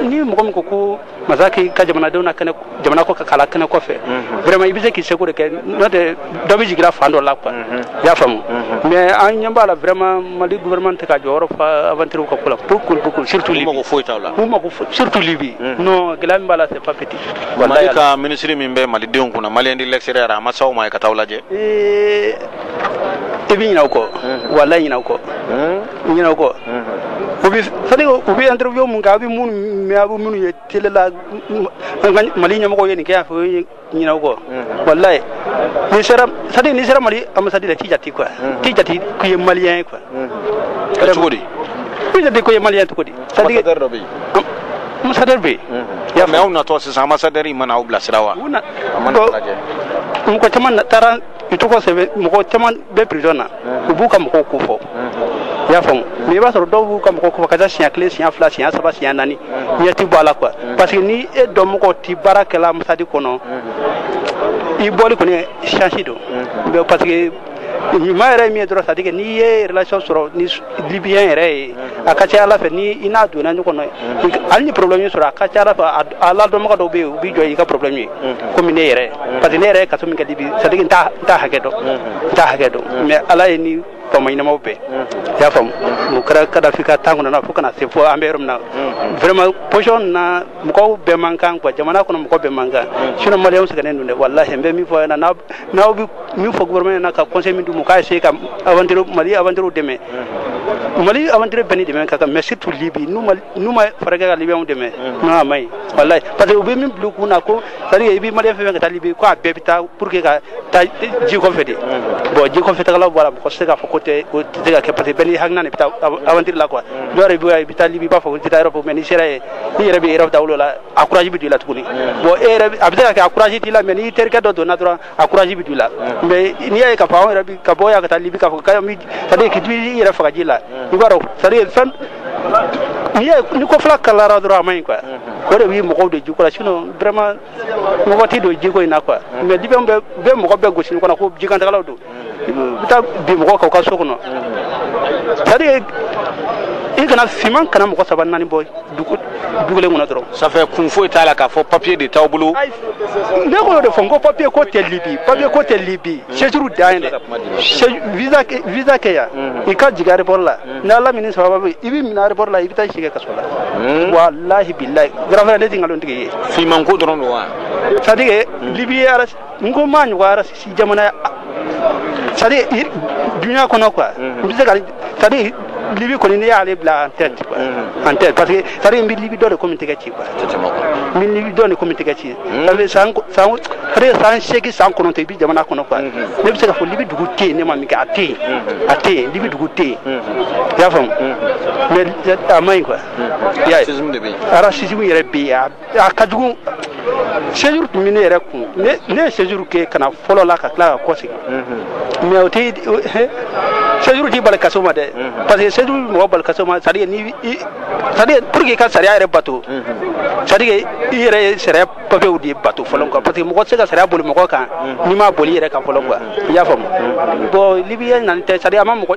ni mɔgɔ min ko ko masakɛ' ka jamanadenw na kɛnɛ jamana kɔ ka kala kɛnɛ kɔfɛ mhm. vraiment i bɛ se k'i seko de kɛ n'o tɛ dɔ bɛ jigira fan dɔ la quoi mhm. i y'a faamu mhm. mais an ɲɛ b'a la vraiment mali gouvernement tɛ k'a jɔyɔrɔ fa aventure ka ko la beaucoup beaucoup surtout libi mako foyi t'a la u mako foyi surtout libi non gɛlɛya min b'a la c'est pas petit mali ka ministre min bɛ malidenw kunna malien de l'extérieur a ma s'aw ma ye ka t'aw lajɛ eh, i bɛ ɲinɛ o kɔ walayi ɲinɛ o kɔ ɲinɛ o kɔ u bɛ c'est à dire u bɛ interview mun kɛ a bɛ minnu mɛn a bɛ minnu ye tele la mali ɲɛmɔgɔ ye nin kɛ y'a fɔ ye ɲinɛ o kɔ walayi n'i sera c'est à dire n'i sera mali ambassade la u t'i jati quoi t'i jati k'i ye maliyɛn ye quoi kɛra cogo di t'i jati k'i ye maliyɛn cogo di c'est à dire dɔ bɛ yen ambassadeur bɛ yen mais aw natɔ sisan ambassadeur in ma na aw bilasira wa mɔgɔ caman taara i tɔgɔ sɛbɛn mɔgɔ caman bɛ prison na u b'u ka mɔgɔw ko fɔ i y'a faamu mais i b'a sɔrɔ dɔw b'u ka mɔgɔw ko fɔ ka taa siɲɛ kelen siɲɛ fila siɲɛ saba siɲɛ naani ɲɛ ti bɔ a la quoi parce que ni e dɔnmɔgɔ ti baara kɛ l'ambassade kɔnɔ i bɔli kɔni chance don parce que ɲuman yɛrɛ min ye dɔrɔn c'est à dire que n'i ye relation sɔrɔ ni libiyɛn yɛrɛ ye a ka ca ala fɛ ni i n'a donna ɲɔgɔn na hali ni problème y'i sɔrɔ a ka ca ala fɛ aladɔnbaga dɔw bɛ yen u b'i jɔ n'i ka problème ye komi ne yɛrɛ parce que ne yɛrɛ ye kaso min kɛ libi c'est-à-dire n t'a hakɛ dɔn n t'a hakɛ dɔn mais ala ye ni faama ɲɛnamaw bɛɛ i y'a faamu o kɛra kadafi ka temps kɔnɔna fo kana se fo an bɛ yɔrɔ min na vraiment position na mɔgɔw bɛɛ man kan quoi jamana kɔnɔ mɔgɔ bɛɛ man kan sinon maliyɛnw sɛgɛnnen don dɛ walahi n bɛ min fɔ ɲɛna n'aw bɛ min fɔ gouvernement ɲɛna ka conseil min d'u ma k'a essayer ka aventure mali aventurew dɛmɛ mali aventure bɛɛ ni dɛmɛ ka kan mais surtout libi n'u ma n'u ma fɛɛrɛ kɛ ka Libyɛnw dɛmɛ non a man ɲi walayi parce que u bɛ min bila u kun na ko c'est à dire i bɛ Maliyɛn fɛn fɛn ka taa Libye ko a bɛɛ bɛ taa pour que ka taa ji kɔfɛ de bon ji kɔfɛtagalaw b'a la mɔgɔ tɛ se k'a fɔ ko tɛ o tɛ se ka kɛ parce que bɛɛ n'i hakilina de bɛ taa av- aventure la quoi dɔw yɛrɛ bɛ i bɛ taa Libye i b'a fɔ ko n tɛ taa Europe mais n'i sera yen n'i yɛrɛ bɛ Europe dawolo la a courage bɛ don i la tuguni bon e yɛrɛ bɛ- a bɛ se ka kɛ a courage t'i la mais n'i terikɛ dɔ donna dɔrɔn a courage bɛ don i la mais n'i y'a ye k'a fɔ i yɛrɛ bɛ ka bɔ yan ka taa libi k'a fɔ komi c'est-à-dire k'i yɛrɛ faga ji la i b'a dɔn c'est-à-dire fɛn n'i ye ni ko fila kalara dɔrɔn a ma ɲi quoi o de bɛ mɔgɔw don jiko la sinon vraiment mɔgɔ tɛ don jiko in na quoi mais libi bɛ mɔgɔ bɛɛ gosi kɔnɔ ko jikantagalaw don i bɛ taa bin mɔgɔ kan u ka so kɔnɔ c'est-à-dire i kana fiman kana mɔgɔ saba naani bɔ dugu du kelen kɔnɔ dɔrɔn ça fait kun foyi t'a la k'a fɔ papier de t'aw bolo ne ko y'o de fɔ n ko papier ko tɛ libi papier ko tɛ libi séjour dan ye dɛ Séjour- visa kɛ- visa kɛ yan i ka jigin aéroport la ni ala m'i ni sababu bɛn i bɛ minɛ aéroport la i bɛ taa i si kɛ kaso la walahi bilahi grand frère ne tɛ nkalon tigɛ i ye fimanko dɔrɔn don wa c'est-à-dire libi ye raciste n ko n m'a ɲɔgɔn raciste jamana ye c'est-à-dire dunya kɔnɔ quoi n bɛ se ka c'est-à-dire libi kɔni ne y'ale bila en tête quoi en tête parce que c'est-à-dire n bɛ libi dɔn de komi tɛgɛ ci quoi n bɛ libi dɔn de komi tɛgɛ ci c'est-à-dire san san c'est-à-dire san seegin san kɔnɔntɔn i bɛ jamana kɔnɔ quoi ne bɛ se ka fɔ libi dugu tɛ yen ne ma min kɛ a tɛ yen a tɛ yen libi dugu tɛ yen i y'a faamu mais a man ɲi quoi i y'a ye racisme yɛrɛ bɛ yen a ka jugu séjour tun bɛ ne yɛrɛ kun ne ne ye séjour kɛ ka na fɔlɔ la ka tila ka kɔ segin mais o tɛ séjour t'i bali kaso ma dɛ parce que séjour bɛ mɔgɔ bali kaso ma c'est à dire ni i c'est à dire pour que i ka sariya yɛrɛ bato c'est à dire i yɛrɛ ye sariya papiyew de bato fɔlɔ quoi parce que mɔgɔ tɛ se ka sariya boli mɔgɔ kan n'i m'a boli i yɛrɛ kan fɔlɔ quoi i y'a faamu bon libiyɛn nani tɛ c'est à dire a ma mɔgɔ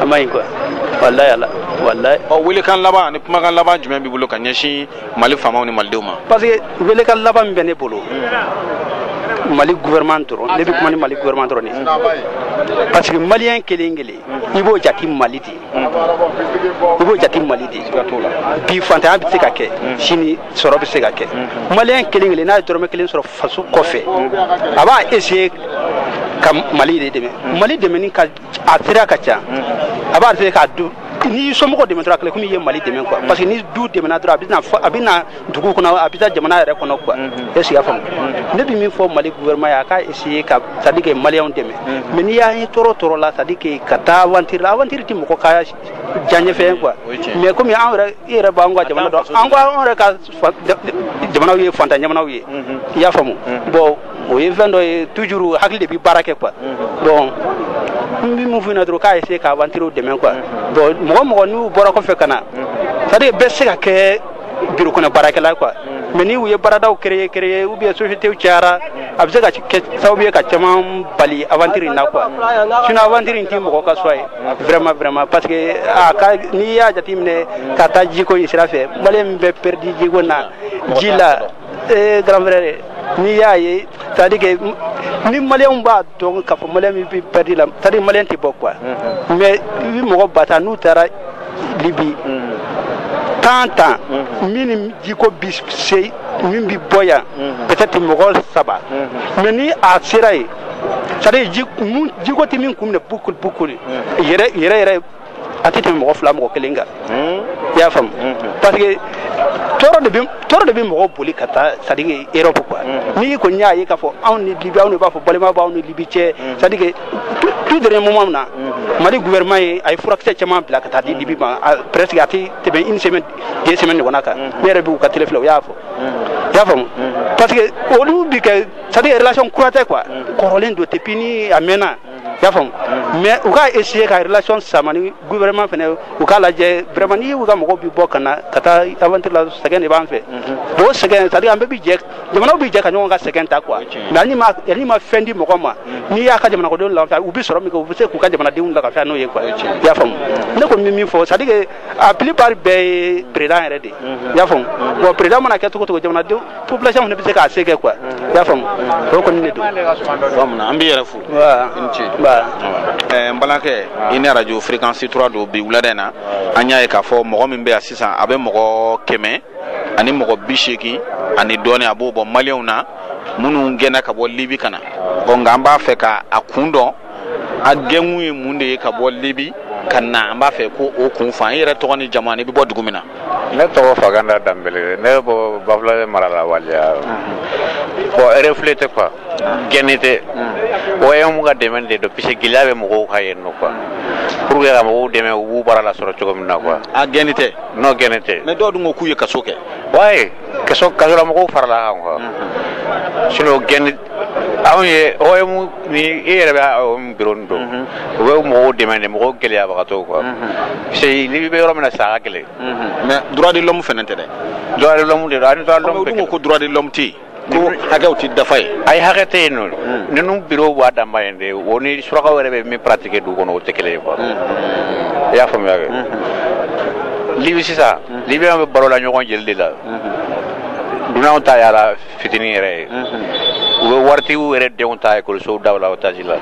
a ma ɲi quoi walayi ala walayi. ɔ welekan laban ani kumakan laban jumɛn b'i bolo ka ɲɛsin mali faamaw ni malidenw ma. parce que welekan laban min bɛ ne bolo. mali gouvernement dɔrɔn ne bɛ kuma ni mali gouvernement dɔrɔn de ye parce que maliyɛn kelen kelen i b'o jate mali de ye i b'o jate mali de bi fantanya bɛ se ka kɛ mm. sini sɔrɔ bɛ se ka kɛ mm-hmm. maliyɛn kelen kelen n'a ye dɔrɔmɛ kelen sɔrɔ faso kɔfɛ mm. a b'a essayer ka mali de dɛmɛ mm. mali dɛmɛni ka a sira ka ca a b'a essayer k'a du n'i somɔgɔ dɛmɛ dɔrɔn a kɛlen komi i ye mali dɛmɛ quoi parce que ni du dɛmɛna dɔrɔn a bɛ na a bɛ na dugu kɔnɔ a bɛ taa jamana yɛrɛ kɔnɔ quoi est-ce i y'a faamu ne bɛ min fɔ mali gouvernement ye a k'a essayer ka c'est à dire que maliyɛnw dɛmɛ mais n'i y'a ye tɔɔrɔ tɔɔrɔ la c'est à dire que ka taa aventure la aventure tɛ mɔgɔ ka diyaɲɛfɛn quoi mais komi an yɛrɛ i yɛrɛ b'an ka jamana dɔn an ko an yɛrɛ ka jamanaw ye fantan jamanaw ye i y'a faamu bon o ye fɛn dɔ ye toujours hakili de bɛ baara kɛ quoi bon n bɛ mun f'u ɲɛna dɔrɔn k'a essayer ka aventure dɛmɛ quoi bon mɔgɔ mɔgɔ n'u bɔra kɔfɛ ka na c'est à dire bɛɛ se ka kɛ biro kɔnɔ baarakɛla quoi mais ni u ye baaradaw créer créer ou bien sociétéw cayara a bɛ se ka kɛ sababu ye ka caman bali aventure in na quoi sinon aventure in tɛ mɔgɔ ka choix ye vraiment vraiment parce que a ka n'i y'a jateminɛ ka taa jiko in sira fɛ maliyɛn min bɛ perdu jiko na ji la ee grand frère n'i y'a ye c'est à dire que ni maliyɛnw b'a dɔn k'a fɔ maliyɛn min bɛ perdu la c'est à dire maliyɛn tɛ bɔ quoi mais i bɛ mɔgɔ ba ta n'u taara libi temps temps min jiko bi se min bi bɔ yan peut-être mɔgɔ saba mais ni a sera yen c'est-à-dire ji mun jiko tɛ min kun minɛ bukuli bukuli yɛrɛ yɛrɛ yɛrɛ a tɛ tɛmɛ mɔgɔ fila mɔgɔ kelen kan i y'a faamu parce que tɔɔrɔ de bɛ tɔɔrɔ de bɛ mɔgɔ boli ka taa c'est à dire Europe quoi n'i kɔni y'a ye k'a fɔ anw ni Libi anw de b'a fɔ balima b'anw ni Libi cɛ c'est à dire tout dernier moment na mali gouvernement ye a ye furakisɛ caman bila ka taa di libi ma presque a tɛ tɛmɛ une semaine deux semaines ɲɔgɔnna kan ne yɛrɛ b'u ka tele filɛ u y'a fɔ i y'a faamu parce que olu bi kɛ c'est à dire relation kura tɛ quoi kɔrɔlen don depuis ni a mɛnna i y'a faamu mais u k'a essayer ka relation sama ni gouvernement fɛnɛ u k'a lajɛ vraiment ni u ka mɔgɔw bi bɔ ka na ka taa aventure la sɛgɛn de b'an fɛ o sɛgɛn c'est à dire an bɛɛ bi jɛ jamanaw bɛ jɛ ka ɲɔgɔn ka sɛgɛn ta quoi mais hali n'i ma fɛn di mɔgɔ ma mm. n'i y'a ka jamanadenw lafiya u bɛ sɔrɔ min kɛ u bɛ se k'u ka jamanadenw lafiya n'o ye quoi i y'a faamu ne kɔni bɛ min fɔ c'est à dire que a plupart bɛɛ ye président yɛrɛ de ye mm-hmm. i y'a faamu mm-hmm. bon président mana kɛ cogo cogo jamanadenw population fana bɛ se k'a se kɛ quoi i y'a faamu mm-hmm. o kɔni de don an b'i yɛrɛ fo i ni ce eh, n balimakɛ i ni arajo fréquence 3 don bi wulada in na an y'a ye k'a fɔ mɔgɔ min bɛ yan sisan a bɛ mɔgɔ kɛmɛ ani mɔgɔ bi seegin ani dɔɔni a b'o bɔ maliyɛnw na minnu gɛnna ka bɔ libi ka na bon nka an b'a fɛ ka a kun dɔn a gɛnkun ye mun de ye ka bɔ libi ka na an b'a fɛ ko o kun f'an ye i yɛrɛ tɔgɔ ni jamu n'i bɛ bɔ dugu min na ne tɔgɔ faganda danbele ne bɛ bɔ bafulabɛ mara la waliya bon refoulé tɛ quoi gɛnni tɛ OIM ka dɛmɛ de don puisque gɛlɛya bɛ mɔgɔw kan yen nɔ quoi pour que ka mɔgɔw dɛmɛ u b'u bara lasɔrɔ cogo min na quoi a gɛnni tɛ non gɛnni tɛ mais dɔw dun ko k'u ye kaso kɛ ouais kaso kasola mɔgɔw farala an kan quoi mhm. sinon gɛnni anw ye OIM ni e yɛrɛ bɛ OIM bureau nin dɔn mhm. u bɛ mɔgɔw dɛmɛ de mɔgɔw gɛlɛyabagatɔw quoi mhm. parce que libi bɛ yɔrɔ min na sa a ka gɛlɛn mais droit de l'homme fɛnɛ tɛ dɛ droit de l'homme de don ani droit de l'homme ko droit de l'homme tɛ yen ko hakɛw tɛ dafa yen ayi hakɛ tɛ yen nɔ hmm. ninnu bureau b'a danma yen de o ni surakaw yɛrɛ bɛ min pratiquer dugu kɔnɔ o tɛ kelen ye quoi hmm. i y'a faamuya kɛ hmm. libi sisan libiyɛnw bɛ balo la ɲɔgɔn jeli de la dunanw ta y'a la fitinin yɛrɛ ye u bɛ waritigiw yɛrɛ denw ta ekɔlisow daw la otage la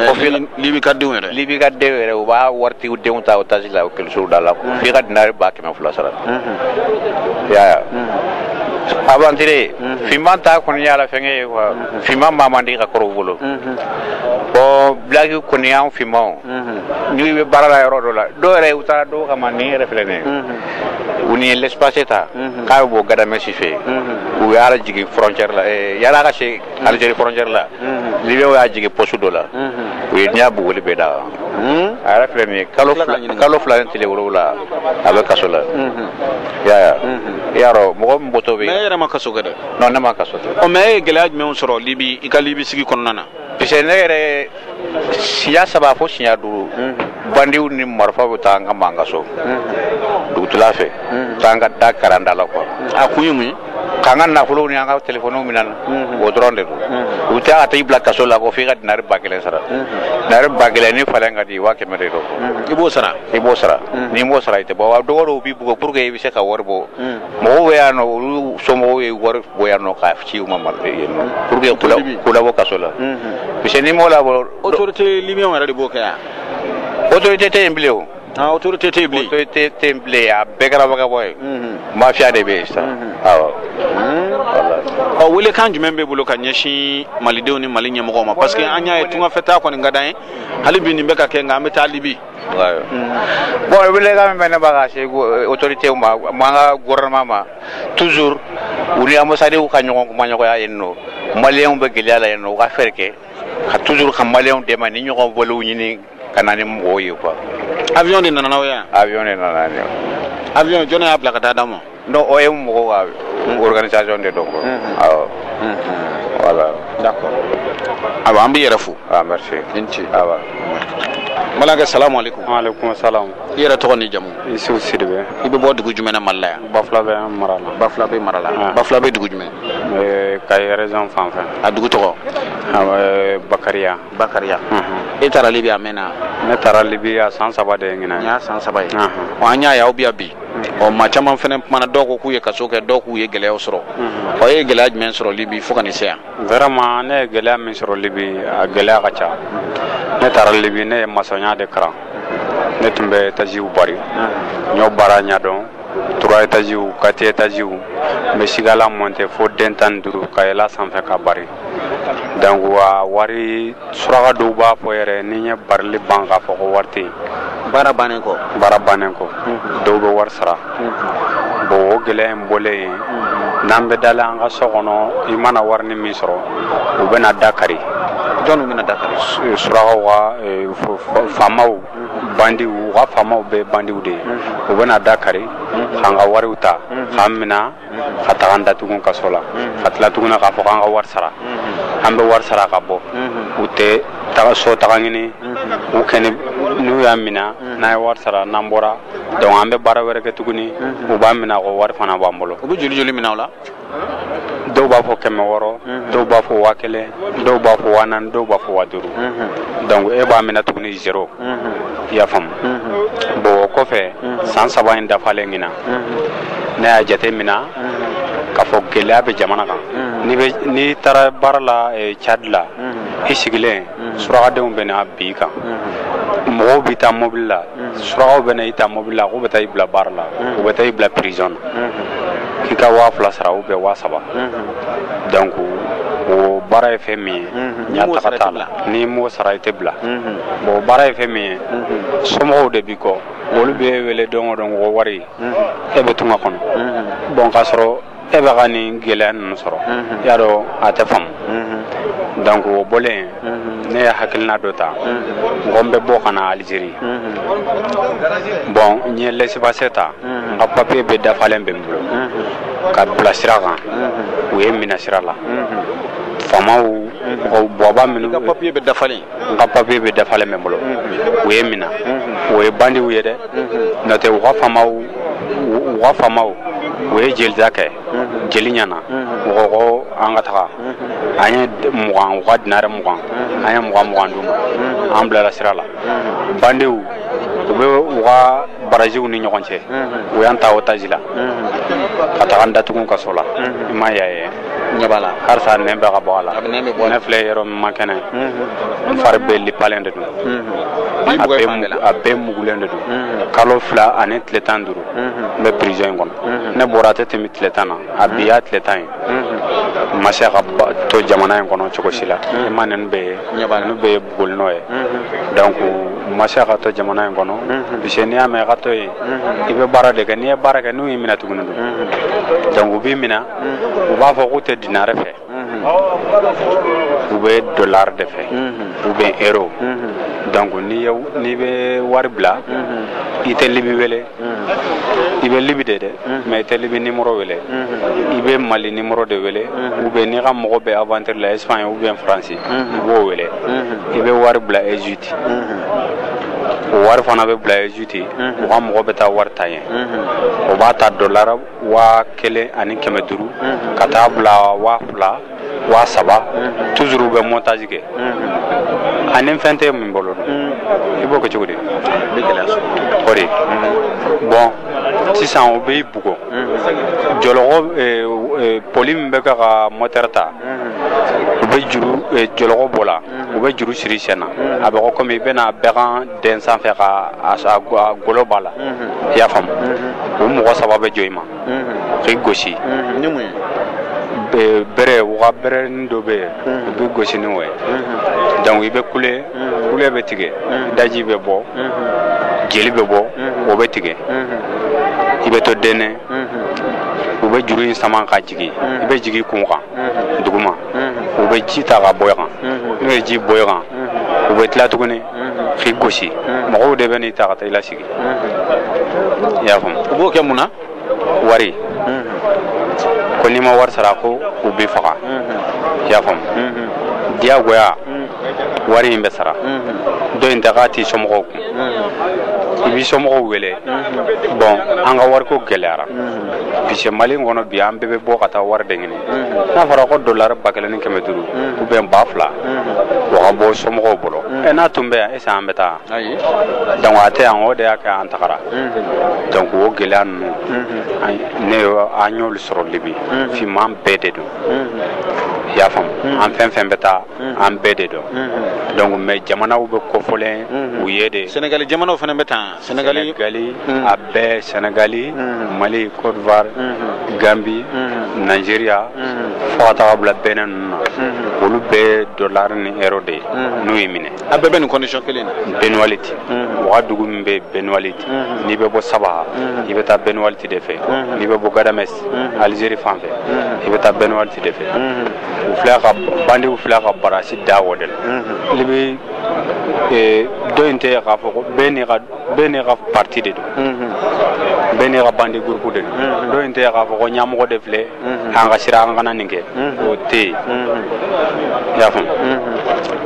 o fi libi ka denw yɛrɛ libi ka denw yɛrɛ u b'a waritigiw denw ta otage la ekɔlisow da la mm. f'i ka dinari ba kɛmɛ fila sara mm-hmm. i y'a ye mm-hmm. aventurier mm-hmm. finman ta kɔni y'a la fɛngɛ ye quoi finman maa man di ka kɔrɔ u bolo bon black kɔni y'an finmanw n'i bɛ baara la yɔrɔ dɔ la dɔw yɛrɛ u taara dɔw kama nin yɛrɛ filɛ nin ye ɔ nin ye l'espace ta k'a bɛ bɔ gadamɛsi fɛ yen u y'a jigin frontière la eh, yala ka se Algérie frontière la Libyenw y'a jigin poste dɔ la u ye diɲɛ bugɔli bɛɛ d'a kan a yɛrɛ filɛ nin ye kalo fila ni tile wolowula a bɛ kaso la i y'a ye i y'a dɔn mɔgɔ min bɔtɔ bɛ mais e yɛrɛ ma kaso kɛ dɛ non ne ma kaso kɛ ɔ mais e ye gɛlɛya jumɛnw sɔrɔ libi i ka libi sigi kɔnɔna na parce que ne yɛrɛ siɲɛ saba fo siɲɛ duuru bandiw ni marifa bɛ taa an kama an ka so dugutila fɛ taa an ka da kari an da la quoi a kun ye mun ye k'an ka nafolow ni an ka telefoniw minɛ an na o dɔrɔn de don u bɛ taa ka taa i bila kaso la ko f'i ka dinari ba kelen sara dinari ba kelen ni falen ka di i waa kɛmɛ de don i b'o sara i b'o sara n'i m'o sara i tɛ bɔ wa dɔgɔ dɔw b'i bugɔ pour que i bɛ se ka wari bɔ mɔgɔw bɛ yan nɔ olu somɔgɔw ye wari bɔ yan nɔ k'a ci u ma yen nɔ pour que k'u labɔ kaso la parce que n'i m'u labɔ autorité libyen yɛrɛ de b'o kɛ yan autorité tɛ yen bilen o ah autorité tɛ yen bilen autorité tɛ yen bilen a bɛɛ kɛra vagabond ye mafia de bɛ yen sisan awɔ voilà ɔ welekan jumɛn b'e bolo ka ɲɛsin malidenw ni mali ɲɛmɔgɔw ma parce que an y'a ye tungafɛtaa kɔni ka d'an ye hali bi nin bɛ ka kɛ nka an bɛ taa libi bon welekan min bɛ ne b'a ka se autorité ma an ka gouvernement ma toujours u ni ambasadiw ka ɲɔgɔn kumaɲɔgɔnya yen nɔ maliyɛnw bɛ gɛlɛya la yen nɔ u ka fɛɛrɛ kɛ ka toujours ka maliyɛnw dɛmɛ nin ɲɔgɔn vɔliw ɲini ka na ni mɔgɔw ye quoi avion de nana n'aw ye yan avion de nana n'an ye avion jɔni y'a bila ka taa d'aw ma non o ye mɔgɔw ka hmm. organisation de don quoi hmm, hmm. awɔ voilà d'accord awa an b'i yɛrɛ fo ah merci i ni ce awa n balimakɛ salamu aleykum waaleykum salam i yɛrɛ tɔgɔ ni jamu isufu sidibe i bɛ bɔ dugu jumɛn na mali la yan bafulabɛ mara la bafulabɛ mara la Ah. bafulabɛ dugu jumɛn Eh, kayi région fan fɛ a dugu tɔgɔ Ah, eh, bakariya bakariya Mhm. e taara libi a mɛnna ne taara libi a san saba de ye ɲinan y'a san saba ye Ahan. ɔ an y'a ye aw bɛ yan bi ɔ maa caman fana kumana dɔw ko k'u ye kaso kɛ dɔw k'u ye gɛlɛyaw sɔrɔ ɔ e ye gɛlɛya jumɛn sɔrɔ libi fo ka n'i se yan vraiment ne ye gɛlɛya min sɔrɔ libi a gɛlɛya ka ca ne taara libi ne ye masɔnya de kalan ne tun bɛ etaziw bari n y'o baara ɲɛdɔn trois étages quatre étages n bɛ sigala monter fo den tan ni duuru ka yɛlɛ sanfɛ ka bari donc wa wari suraka dɔw b'a fɔ yɛrɛ ni n ye barili ban k'a fɔ ko wari tɛ yen baara bannen kɔ baara bannen kɔ dɔw bɛ wari sara bon o gɛlɛya in bɔlen yen n'an bɛ dala an ka so kɔnɔ i mana warini min sɔrɔ u bɛna da kari jɔnw bɛna da kari eh, surakaw ka eh, faamaw bandiw u ka faamaw bɛɛ bandiw de ye u bɛna da kari k'an ka wariw ta k'an minɛ ka taga an datugu kaso la ka tila tuguna k'a fɔ k'an ka wari sara an bɛ wari sara ka bɔ u tɛ taga so taga ɲini u kɛni n'u y'a mina n'an ye wari sara n'an bɔra donc an bɛ baara wɛrɛ kɛ tuguni u b'a mina ko wari fana b'an bolo u bɛ joli joli minɛ aw la dɔw b'a fɔ kɛmɛ wɔɔrɔ dɔw b'a fɔ waa kelen dɔw b'a fɔ waa naani dɔw b'a fɔ waa duuru donc e b'a minɛ tuguni zero i y'a faamu bon o kɔfɛ san saba in dafalen ɲinan ne y'a jate mina k'a fɔ gɛlɛya bɛ jamana kan n'i taara baara la eh, cadi la i sigilen surakadenw bɛ na bin i kan mɔgɔw b'i ta mobili la surakaw bɛ na i ta mobili la k'u bɛ taa i bila baara la u bɛ taa i bila prison na k'i ka waa fila sara ou bien waa saba donc o baara ye fɛn min ye ɲɛtaga t'a la n'i m'o sara i tɛ bila bon baara ye fɛn min ye somɔgɔw de b'i kɔ olu bɛ wele don o don ko wari e bɛ tunga kɔnɔ bon k'a sɔrɔ e bɛ ka nin gɛlɛya ninnu sɔrɔ i y'a dɔn a tɛ faamu donc o bɔlen ne ye hakilina dɔ ta n ko n bɛ bɔ ka na Algérie bon n ye laissez-passer ta n ka papier bɛɛ dafalen bɛ n bolo ka bila sira kan u ye n minɛ sira la faamaw bawaba minnu n ka papier bɛɛ dafalen n ka papier bɛɛ dafalen bɛ n bolo u ye n minɛ o ye bandiw ye dɛ n'o tɛ u ka faamaw u ka faamaw u ye jelita kɛ jeli ɲɛna u ko ko an ka taga an ye mugan u ka dinare mugan an ye mugan mugan d'u ma an bilara sira la bandiw u bɛ u ka baraziw ni ɲɔgɔn cɛ u y'an ta otage la ka taga n datugu kaso la i ma y'a ye ɲɛ b'a la halisa nɛn bɛ ka bɔ a la ne filɛ yɔrɔ min ma kɛnɛ n fari bɛɛ lipalen de don a bɛɛ mugulen de don kalo fila ani tile tan ni duuru n bɛ prison in kɔnɔ ne bɔra a tɛ tɛmɛ tile tan na a bi y'a tile tan ye n ma se ka to jamana in kɔnɔ cogo si la i ma ninnu bɛɛ ye ninnu bɛɛ ye bugoli nɔ ye donc n ma se ka to jamana in kɔnɔ parce que n'i y'a mɛn ka to yen i bɛ baara de kɛ n'i ye baara kɛ n'u y'i minɛ tuguni don donc u b'i minɛ u b'a fɔ k'u tɛ dinare fɛ u bɛ dolari de fɛ ou bien euro donc n'i bɛ wari bila i tɛ libi wele i bɛ libi de dɛ mais i tɛ libi nimoro wele i bɛ mali nimoro de wele ou bien n'i ka mɔgɔ bɛ aventure la espagne ou bien france i b'o wele i bɛ wari bila egypte o wari fana bɛ bila egypte u ka mɔgɔ bɛ taa wari ta yen o b'a ta dolari waa kelen ani kɛmɛ duuru ka taa bila waa fila waa saba toujours u bɛ montage kɛ ani fɛn tɛ min bolo i b'o kɛ cogo di i bɛ gɛlɛya sɔrɔ o de bon sisan u b'i bugɔ jɔlɔkɔ eh, eh, poli min bɛ kɛ ka mɔtɛri ta u bɛ juru eh, jɔlɔkɔ b'o la u bɛ juru siri i sen na a bɛ ko komi i bɛna bɛgan dɛn sanfɛ k'a golo b'a la i y'a faamu o mɔgɔ saba bɛ jɔ i ma k'i gosi ni mun ye bere u ka berenin dɔ bɛ yen u b'i gosi ni o ye donc i bɛ kule kule bɛ tigɛ i daji bɛ bɔ jeli bɛ bɔ o bɛ tigɛ i bɛ to dɛnnen u bɛ juru in sama ka jigin i bɛ jigin kun kan duguma u bɛ ji ta ka bɔn i kan n'u ye ji bɔn i kan u bɛ tila tuguni k'i gosi mɔgɔw de bɛ n'i ta ka taa i lasigi i y'a faamu u b'o kɛ mun na wari ko n'i ma wari sara ko u b'i faga i y'a faamu diyagoya wari in bɛ sara dɔ in ta k'a t'i somɔgɔw kun i b'i somɔgɔw wele bon an ka wariko gɛlɛyara parce que mali in kɔnɔ bi an bɛɛ bɛ bɔ ka taa wari de ɲini n'a fɔra ko dolari ba kelen ni kɛmɛ duuru ou bien ba fila o ka bɔ somɔgɔw bolo ɛ n'a tun bɛ yan est-ce que an bɛ taa donc a tɛ yan o de y'a kɛ an tagara donc o gɛlɛya ninnu ne an y'olu sɔrɔ libi finman bɛɛ de don i y'a faamu an fɛn fɛn bɛ taa an bɛɛ de don donc mais jamanaw bɛ kofɔlen u ye de senegali jamanaw fana bɛ taa Sɛnɛgali a bɛɛ sɛnɛgali mali Côte d'Ivoire ganbi nigeria fo ka taga bila Benin ninnu na olu bɛɛ dɔlari ni euro de ye n'u y'i minɛ a bɛɛ bɛ nin condition kelen na Beni Walid u ka dugu min bɛ Beni Walid n'i bɛ bɔ Sabha i bɛ taa Beni Walid de fɛ n'i bɛ bɔ Ghadamès alizeri fan fɛ i bɛ taa Beni Walid de fɛ u fila ka bandiw fila ka barasi da o de la ee dɔ in tɛ k'a fɔ ko bɛɛ n'i ka bɛɛ n'i ka parti de don bɛɛ n'i ka bandi groupe de don dɔ in tɛ k'a fɔ ko ɲɛmɔgɔ de filɛ an ka siran an kana nin kɛ o tɛ yen i y'a faamu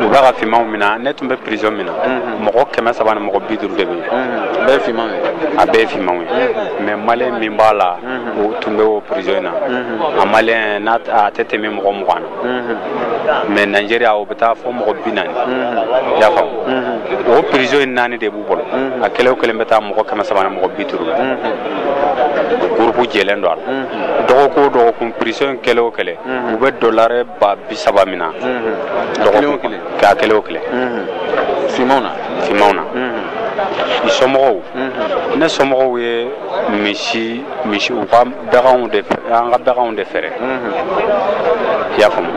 u bɛ ka fimanw mina ne tun bɛ prison min na mɔgɔ kɛmɛ saba ni mɔgɔ bi duuru de bɛ yen a bɛɛ ye fimanw ye a bɛɛ ye fimanw ye mais maliyɛn min b'a la o tun bɛ o prison in na a maliyɛn n'a a tɛ tɛmɛ mɔgɔ mugan na mais nigeria o bɛ taa fo mɔgɔ bi naani i y'a faamu o prison in naani de b'u bolo a kelen o kelen bɛ taa mɔgɔ kɛmɛ saba ni mɔgɔ bi duuru gurupu jɛlen don a la dɔgɔkun o dɔgɔkun prison in kelen o kelen u bɛ dɔlari ba bi saba mina dɔgɔkun k'a kelen o kelen finmanw na finmanw na i somɔgɔw ne somɔgɔw ye misi misi u ka baganw de an ka baganw de feere i y'a faamu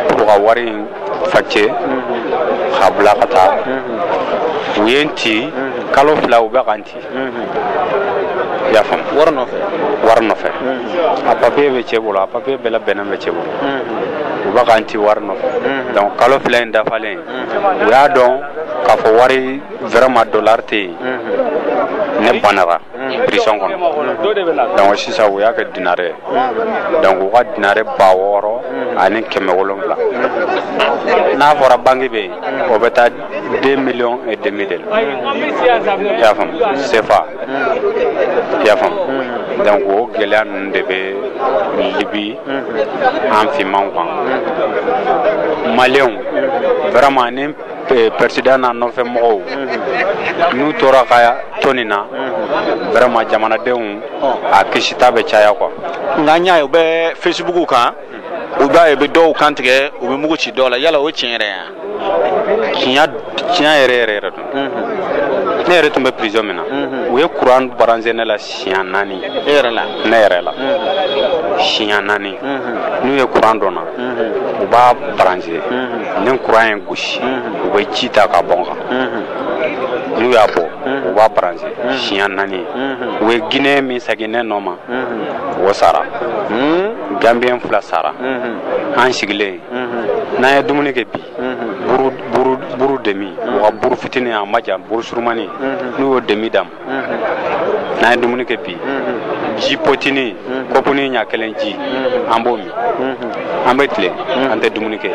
pour ka wari in facɛ k'a bila ka taa u ye n ci kalo fila u bɛ ka n ci i y'a faamu wari nɔfɛ wari nɔfɛ a papiye bɛ cɛ bolo a papiye bɛɛ labɛnnen bɛ cɛ bolo u bɛ ka n ci wari nɔfɛ donc kalo fila in dafalen u y'a dɔn k'a fɔ wari vraiment dollar tɛ yen ne banara prison kɔnɔ donc sisan u y'a kɛ dinare ye donc u ka dinare ba wɔɔrɔ ani kɛmɛ wolonwula n'a fɔra banki bɛ yen o bɛ taa deux millions et demi de la i y'a faamu sefa i y'a faamu donc o gɛlɛya ninnu de bɛ libi an finmanw kan maliyɛnw vraiment ni Eh, peresidan n'a nɔfɛ mɔgɔw mhm. n'u tora ka to nin na mhm. vraiment jamanadenw a kisita bɛ caya quoi nka an y'a ye u bɛ facebook kan u b'a ye u bɛ dɔw kan tigɛ u bɛ mugu ci dɔw la yala o ye tiɲɛ yɛrɛ ye wa tiɲɛ tiɲɛ yɛrɛ yɛrɛ yɛrɛ don mhm. ne yɛrɛ tun bɛ prison min na u ye kuran branché ne la siɲɛ naani e yɛrɛ la ne yɛrɛ la siɲɛ naani n'u ye kuran don n na u b'a branché ni kuran ye n gosi u bɛ ji ta k'a bɔn n kan n'u y'a bɔ u b'a branché siɲɛ naani u ye guinéen min sigi ne nɔ ma o sara gambiyɛn fila sara an sigilen n'an ye dumuni kɛ bi buru demi u ka buru fitinin a ma jan buru surumani n'u y'o demi d'an ma n'an ye dumuni kɛ bi ji potini kɔpuni ɲa kelen ji an b'o min an bɛ tilen an tɛ dumuni kɛ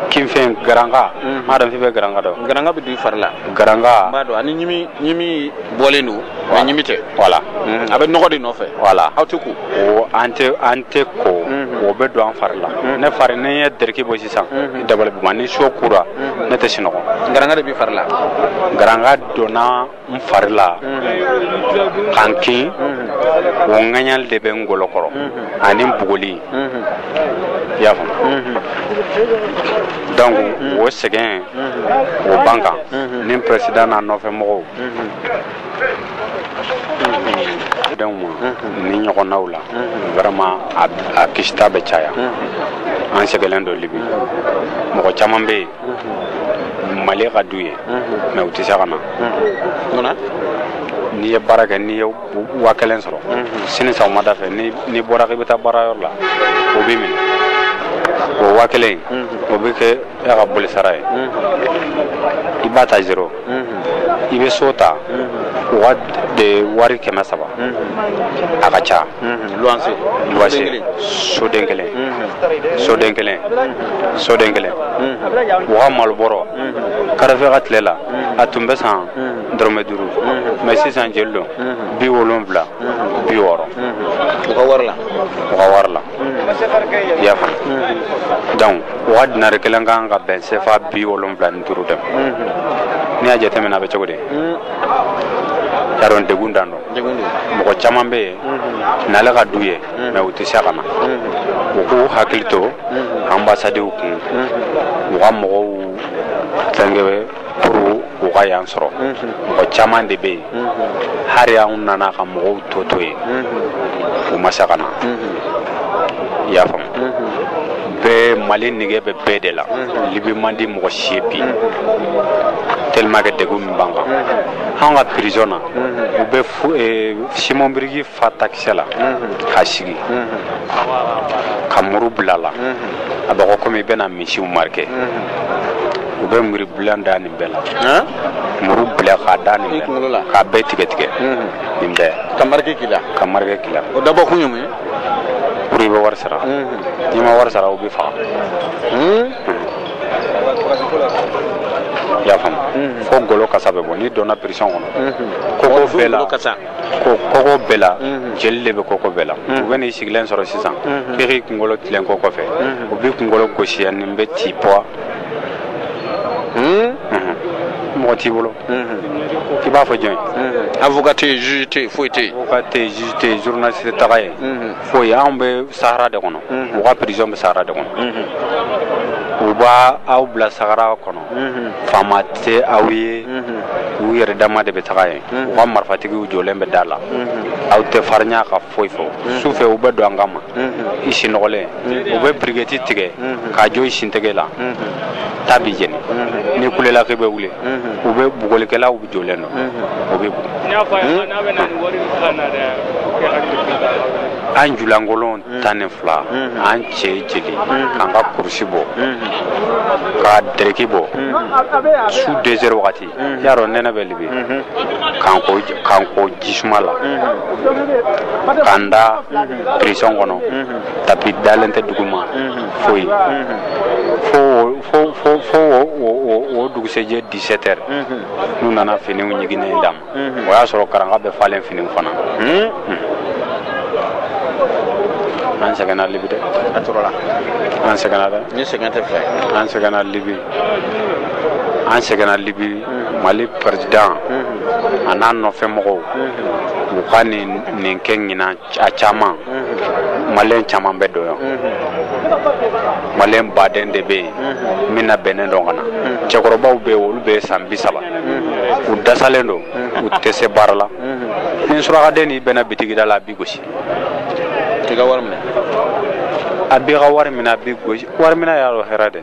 kinfɛn garanga n m'a dɔn f'i bɛ garanga dɔn garanga bɛ don i fari la garanga b'a dɔn ani ɲimi ɲimi bɔlen don wa ɲimi tɛ voilà a bɛ nɔgɔ de nɔfɛ voilà aw tɛ ko o an tɛ an tɛ ko o bɛ don an fari la ne fari ne ye dɛrɛki bɔ sisan i dabali bɛ ban ni su kora ne tɛ sinɔgɔ garanga de b'i fari la garanga donna n fari la ka n kin o ŋaɲali de bɛ n golo kɔrɔ ani n bugoli i y'a faamu donc o sɛgɛn o b'an kan ni peresidan n'a nɔfɛ mɔgɔw denw ma nin ɲɔgɔnnaw la vraiment a kisita bɛ caya an sɛgɛlen don libi mɔgɔ caman bɛ yen mali ka d'u ye mais u tɛ se ka na munna n'i ye baara kɛ n'i ye wa kelen sɔrɔ sini sɔgɔmada fɛ n'i bɔra k'i bɛ taa baara yɔrɔ la u b'i minɛ o wa kelen o bɛ kɛ e ka bɔlisara ye i b'a ta zero i bɛ so ta u ka wari kɛmɛ saba a ka ca loyer soden kelen soden kelen soden kelen u ka malobɔrɔ kadafi ka tile la a tun bɛ san dɔrɔmɛ duuru mais sisan jeli don bi wolowula bi wɔɔrɔ u ka wari la i y'a faamu donc u ka dinari kelen kan ka bɛn sefa bi wolonwula ni duuru de ma n'i y'a jateminɛ a bɛ cogo di y'a dɔn degun dan don mɔgɔ caman bɛ yen nali ka d'u ye mais u tɛ se ka na u k'u hakili to anbasadiw kun u ka mɔgɔw fɛnkɛ pour u ka yan sɔrɔ mɔgɔ caman de bɛ yen hali anw nana ka mɔgɔw tɔ to yen u ma se ka na i y'a faamu bɛɛ mali nege bɛ bɛɛ de la libi man di mɔgɔ si ye bi tellement que degun min b'an kan anw ka prison na u bɛ simɔn biriki fa takisɛ la k'a sigi ka muru bila a la a bɛ ko comme i bɛna misiw marquer u bɛ muru bilen da nin bɛɛ la muru bila k'a da nin bɛɛ la k'a bɛɛ tigɛ tigɛ nin bɛɛ ka marque k'i la ka marque k'i la o dabɔ kun ye mun ye pour i bɛ wari sara n'i ma wari sara u b'i faga i y'a faamu fo golo kasa bɛ bɔ n'i donna prison kɔnɔ kogo bɛɛ la ko kogo bɛɛ la jeli de bɛ kogo bɛɛ la u bɛ n'i sigilen sɔrɔ sisan k'i k'i kunkolo tilen kogo fɛ u b'i kunkolo gosi yan nin bɛ ti pɔ mɔgɔ t'i bolo k'i b'a fɔ jɔn ye avocat tɛ yen juge tɛ yen foyi tɛ yen avocat tɛ yen juge tɛ yen journaliste tɛ taga yen foyi anw bɛ sahara de kɔnɔ u ka prison bɛ sahara de kɔnɔ u bɛ aw bila sahara kɔnɔ faama tɛ aw ye u yɛrɛ dama de bɛ taga yen u ka marifatigiw jɔlen bɛ da la aw tɛ farinya ka foyi fɔ su fɛ u bɛ don an kama i sinɔgɔlen u bɛ biriketi tigɛ k'a jɔ i sentɛgɛ la ta b'i jeni n'i kulela k'i bɛ wuli u bɛ bugɔlikɛlaw jɔlen don o b'i bugɔ an julankolon tan ni fila an cɛ jeli k'an ka kurusi bɔ ka dereki bɔ su deux heures wagati y'a dɔn nɛnɛ bɛ libi k'an ko ji suman la k'an da prison kɔnɔ tapi dalen tɛ duguma foyi fo fo o dugusɛjɛ dix-sept heures n'u nana finiw ɲiginnen d'an ma o y'a sɔrɔ karanga bɛ falen fini fana an sɛgɛnna libi dɛ an tɔɔrɔla an sɛgɛnna dɛ ni sɛgɛn tɛ fila ye an sɛgɛnna libi an sɛgɛnna libi mali président a n'a nɔfɛ mɔgɔw u ka nin nin kɛ ɲinan a caman malien caman bɛ don yan malien baden de bɛ yen min labɛnnen don ka na cɛkɔrɔbaw bɛ yen olu bɛ san bi saba u dasalen don u tɛ se baara la ni surakaden n'i bɛnna bitigida la a b'i gosi i ka wari minɛ a b'i ka wari minɛ a b'i gosi wari minɛ y'a dɔn hɛrɛ dɛ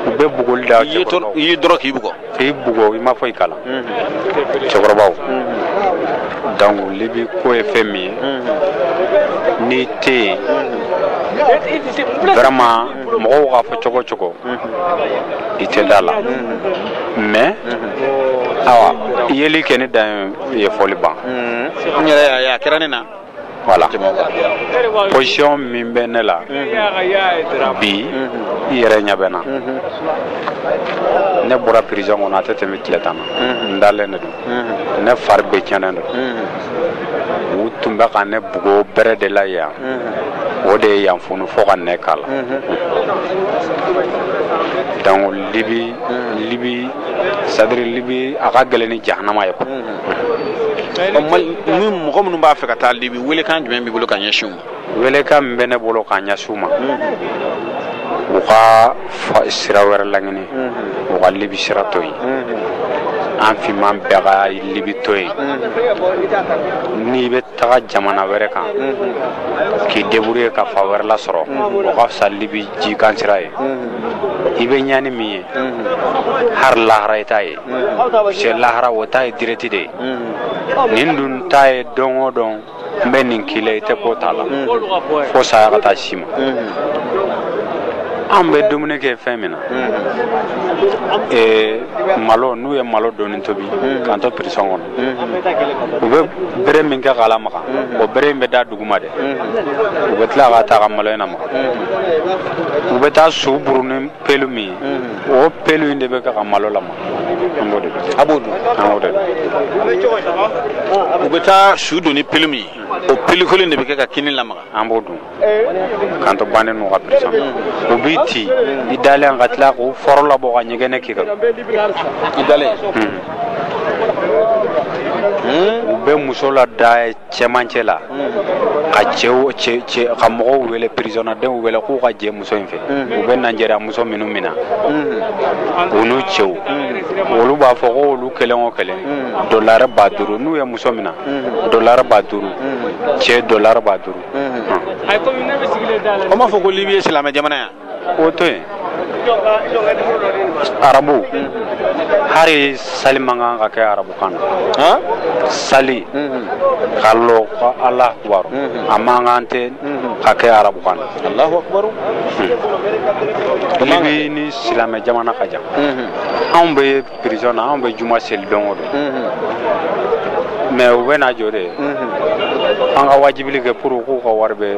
u bɛ bugɔli da cɛkɔrɔbaw i y'i dɔrɔn k'i bugɔ k'i bugɔ i ma foyi k'a la cɛkɔrɔbaw donc libi ko ye fɛn min ye n'i tɛ yen vraiment mɔgɔw k'a fɔ cogo cogo i tɛ da a la mais awa i yeli kɛ ni dan ye fɔli ban n yɛrɛ y'a ye a kɛra ne na voilà position min bɛ ne la bi i yɛrɛ ɲɛ bɛ n na ne bɔra prison kɔnɔ a tɛ tɛmɛ tile tan na n dalen de don ne fari bɛɛ tiɲɛnen don u tun bɛ ka ne bugo bere de la yan o de ye yan funu fo ka nɛn k'a la donc libi libi c'est-à-dire libi a ka gɛlɛn ni jahanama ye ni mɔgɔ minnu b'a fɛ ka taa libi welekan jumɛn b'i bolo ka ɲɛsin u ma welekan min bɛ ne bolo ka ɲɛsin u ma u ka sira wɛrɛ laɲini u ka libi sira to yen an finman bɛɛ ka libi to yen n'i bɛ taga jamana wɛrɛ kan k'i débrouiller ka fan wɛrɛ lasɔrɔ o ka fisa libi jikan sira ye i bɛ ɲani min ye hari lahara i t'a ye sɛ lahara o ta ye direct de ye nin dun ta ye don o don n bɛ nin k'i la i tɛ ko t'a la fo saya ka taa s'i ma an bɛ dumuni kɛ fɛn min na malo n'u ye malo dɔɔni tobi k'an to prison kɔnɔ u bɛ bere min kɛ k'a lamaga o bere in bɛ da duguma dɛ u bɛ tila ka taa ka malo in lamaga u bɛ taa su buru ni pelu min ye o pelu in de bɛ kɛ ka malo lamaga an b'o de a b'o dun an b'o de u bɛ taa su don ni pelu min ye o pelu kelen in de bɛ kɛ ka kini lamaga an b'o dun k'an to bandi ninnu ka prison u b'i ci i dalen ka tila k'u fɔrɔ labɔ ka ɲɛgɛnɛ k'i kan i dalen u bɛ muso lada cɛmancɛ la ka cɛw ka mɔgɔw wele prisonnadenw wele k'u ka jɛ muso in fɛ u bɛ Nigeria muso minnu mina u n'u cɛw olu b'a fɔ ko olu kelen o kelen dɔlare ba duuru n'u ye muso mina dɔlare ba duuru cɛ dɔlare ba duuru o m'a fɔ ko libi ye silamɛ jamana yan o to yen arabu hari sali man kan ka kɛ arabukan na sali ka lɔ ko alahu akubar a man kan tɛ ka kɛ arabukan na alahu akubar libi ni silamɛ jamana ka jan anw bɛ Prison na anw bɛ juma seli don o don mais u bɛ na jɔ de an ka wajibili kɛ pour k'u ka wari bɛ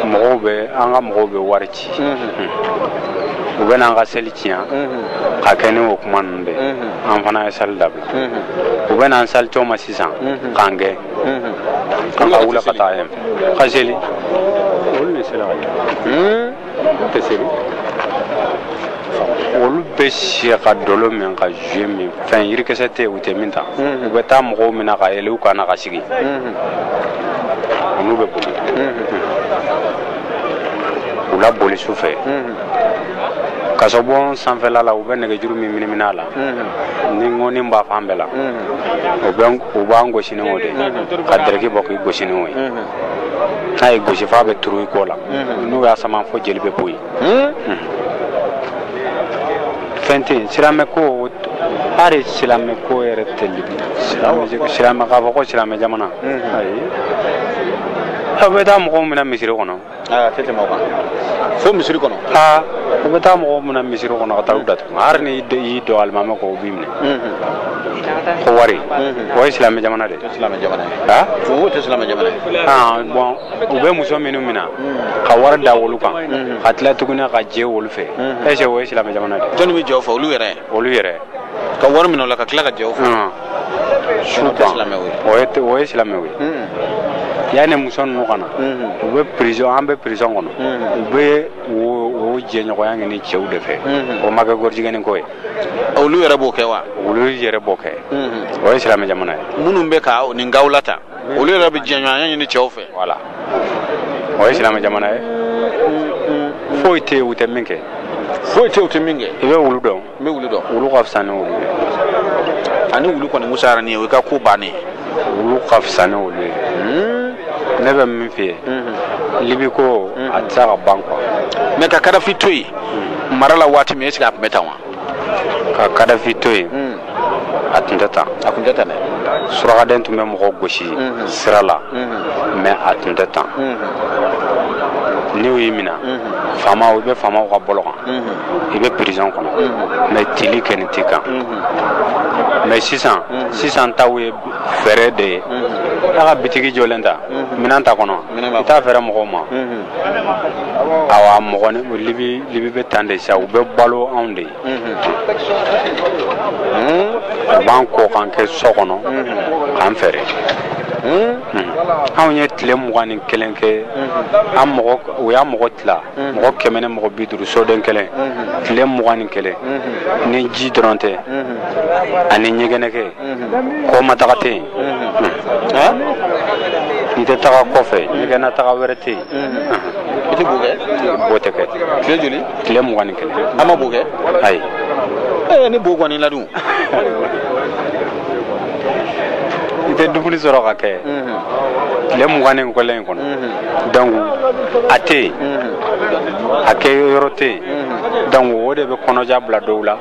mɔgɔw bɛ an ka mɔgɔw bɛ wari ci u bɛ n'an ka seli tiɲɛ k'a kɛ ni o kuma ninnu de ye. an fana ye sali dabila u bɛ n'an salitɔ ma sisan k'an gɛn k'an ka wuli ka taa yen ka seli olu de sera ka kɛ. tɛ seli olu bɛ si ka dɔlɔ min ka zuye min fɛn yirikisɛ tɛ u tɛ min ta u bɛ taa mɔgɔw minɛ ka yɛlɛ u kan na ka sigi olu bɛ boli u la boli su fɛ kasobon sanfɛla la u bɛ nɛgɛjuru min minimina a la ni ŋɔni b'a fan bɛɛ la u b'an gosi ni o de ka dɛrɛki bɔ k'i gosi ni o ye n'a y'i gosi f'a bɛ turu i kɔ la n'u y'a sama fo jeli bɛ bɔ yen fɛn tɛ yen silamɛ ko hali silamɛ ko yɛrɛ tɛ libi silamɛ k'a fɔ ko silamɛ jamana ayi u bɛ taa mɔgɔw minɛ misiri kɔnɔ aa tɛ tɛmɛ o kan fo misiri kɔnɔ aa u bɛ taa mɔgɔw minɛ misiri kɔnɔ ka taa u datugu hali n'i y'i don alimami kɔ u b'i minɛ ko wari o ye silamɛ jamana de silamɛ jamana aa o tɛ silamɛ jamana ye aa bon u bɛ muso minnu minɛ ka wari da wolu kan ka tila tuguni ka jɛ wolu fɛ est ce que o ye silamɛ jamana de jɔnni bɛ jɛ o fɛ olu yɛrɛ olu yɛrɛ ka wari minɛ o la ka tila ka jɛ o fɛ silamɛw ye o ye silamɛw ye yanni muso ninnu ka na u bɛ prison an bɛ prison kɔnɔ u bɛ o jɛɲɔgɔnya ɲini cɛw de fɛ o ma kɛ gɔrijigɛni ko ye olu yɛrɛ b'o kɛ wa olu yɛrɛ b'o kɛ o ye silamɛ jamana ye minnu bɛ ka nin gawula ta olu yɛrɛ bɛ jɛɲɔgɔnya ɲini cɛw fɛ voilà o ye silamɛ jamana ye foyi tɛ yen u tɛ min kɛ foyi tɛ yen u tɛ min kɛ i bɛ wulu dɔn n bɛ wulu dɔn wulu ka fisa ni wolu ye ani wulu kɔni musayara ni ye o y'i ka ko bannen ye wulu ka fisa ni wolu ye hmm? ne bɛ min f'i ye mhm. libi ko mhm. a tɛ se ka ban quoi mais ka kadafi to yen hmm. mara la waati min est ce que a tun bɛ tan wa ka kadafi to yen hmm. a tun tɛ tan a tun tɛ tan dɛ surakaden tun bɛ mɔgɔ gosi sira la mais a tun tɛ tan ni u y'i minɛ faamaw i bɛ faamaw ka bolo kan i bɛ prison kɔnɔ mais tili kɛ nin t'i kan mais sisan sisan taw ye feere de ye a ka bitigi jɔlen ta minɛn ta kɔnɔ i t'a feere mɔgɔw ma awa mɔgɔ ni libi libi bɛ tan de sisan u bɛ balo anw de ye u b'an kɔ k'an kɛ so kɔnɔ k'an feere anw ye tile mugan ni kelen kɛ an mɔgɔ u y'a mɔgɔ tila mɔgɔ kɛmɛ ni mɔgɔ bi duuru soden kelen tile mugan ni kelen ni ji dɔrɔn tɛ ani ɲɛgɛnɛ kɛ kɔma taga tɛ yen i tɛ taga kɔfɛ ɲɛgɛnna taga wɛrɛ tɛ yen i tɛ bo kɛ bo tɛ kɛ tile joli tile mugan ni kelen an ma bo kɛ ayi ee ni bo kɔni la dun i tɛ dumuni sɔrɔ ka kɛ tile mugan ni kelen in kɔnɔ donc a tɛ yen a kɛ yɔrɔ tɛ yen donc o de bɛ kɔnɔja bila dɔw la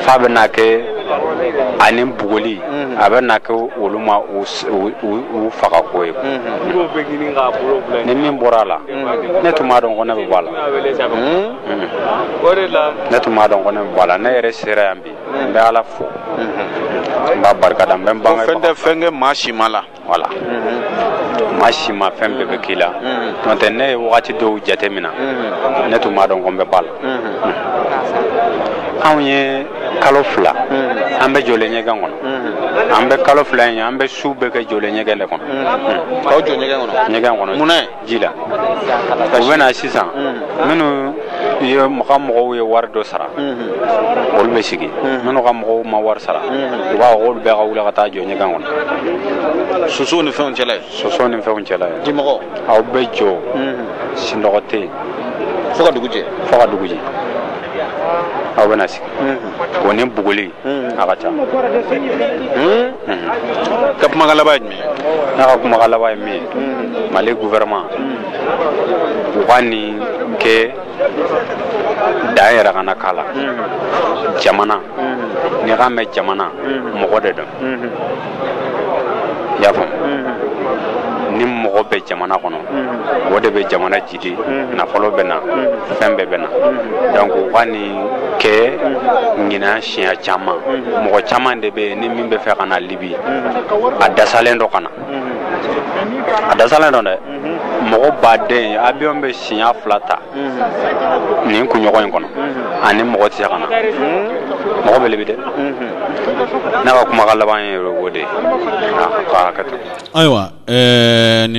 f'a bɛ n'a kɛ ani bugɔli a bɛ n'a kɛ olu ma u faga ko ye ni min bɔra a la ne tun m'a dɔn ko ne bɛ bɔ a la ne tun m'a dɔn ko ne bɛ bɔ a la ne yɛrɛ sera yan bi n bɛ ala fo n b'a barikada n bɛ n bange fɛn tɛ fɛn kɛ maa si ma la voilà maa si ma fɛn bɛɛ bɛ k'i la n'o tɛ ne ye wagati dɔw jate mina ne tun m'a dɔn ko n bɛ bɔ a la anw ye kalo fila an bɛ jɔlen ɲɛgɛn kɔnɔ an bɛ kalo fila in ye an bɛ su bɛɛ kɛ jɔlen ɲɛgɛn de kɔnɔ k'aw jɔ ɲɛgɛn kɔnɔ ɲɛgɛn kɔnɔ mun na ji la u bɛ na sisan minnu ye ka mɔgɔw ye wari dɔ sara olu bɛ sigi minnu ka mɔgɔw ma wari sara u b'a fɔ k'olu bɛɛ ka wuli ka taa jɔ ɲɛgɛn kɔnɔ sosow ni fɛnw cɛla yen sosow ni fɛnw cɛla yen dimɔgɔ aw bɛ jɔ sinɔgɔ tɛ yen fo ka dugu jɛ fo ka dugu jɛ aw bɛna sigi o ni bugɔli a ka ca ka kumakan laban ye jumɛn ye ne ka kumakan laban ye min ye mali gouvernement u ka nin kɛ dan yɛrɛ kana k'a la jamana n'i k'a mɛn jamana mɔgɔ de don i y'a faamu ni mɔgɔ bɛ jamana kɔnɔ o de bɛ jamana ji ji nafolo bɛ na fɛn bɛɛ bɛ na donc u ka nin kɛ ɲinan siɲɛ caman mɔgɔ caman de bɛ yen ni min bɛ fɛ ka na libi a dasalen don ka na a dasalen don dɛ mɔgɔ ba dɛ avion bɛ siɲɛ fila ta nin kunɲɔgɔn in kɔnɔ ani mɔgɔ tɛ se ka na mɔgɔ bɛ libi dɛ ne ka kumakan laban ye o de ye k'a hakɛ to ayiwa ɛɛ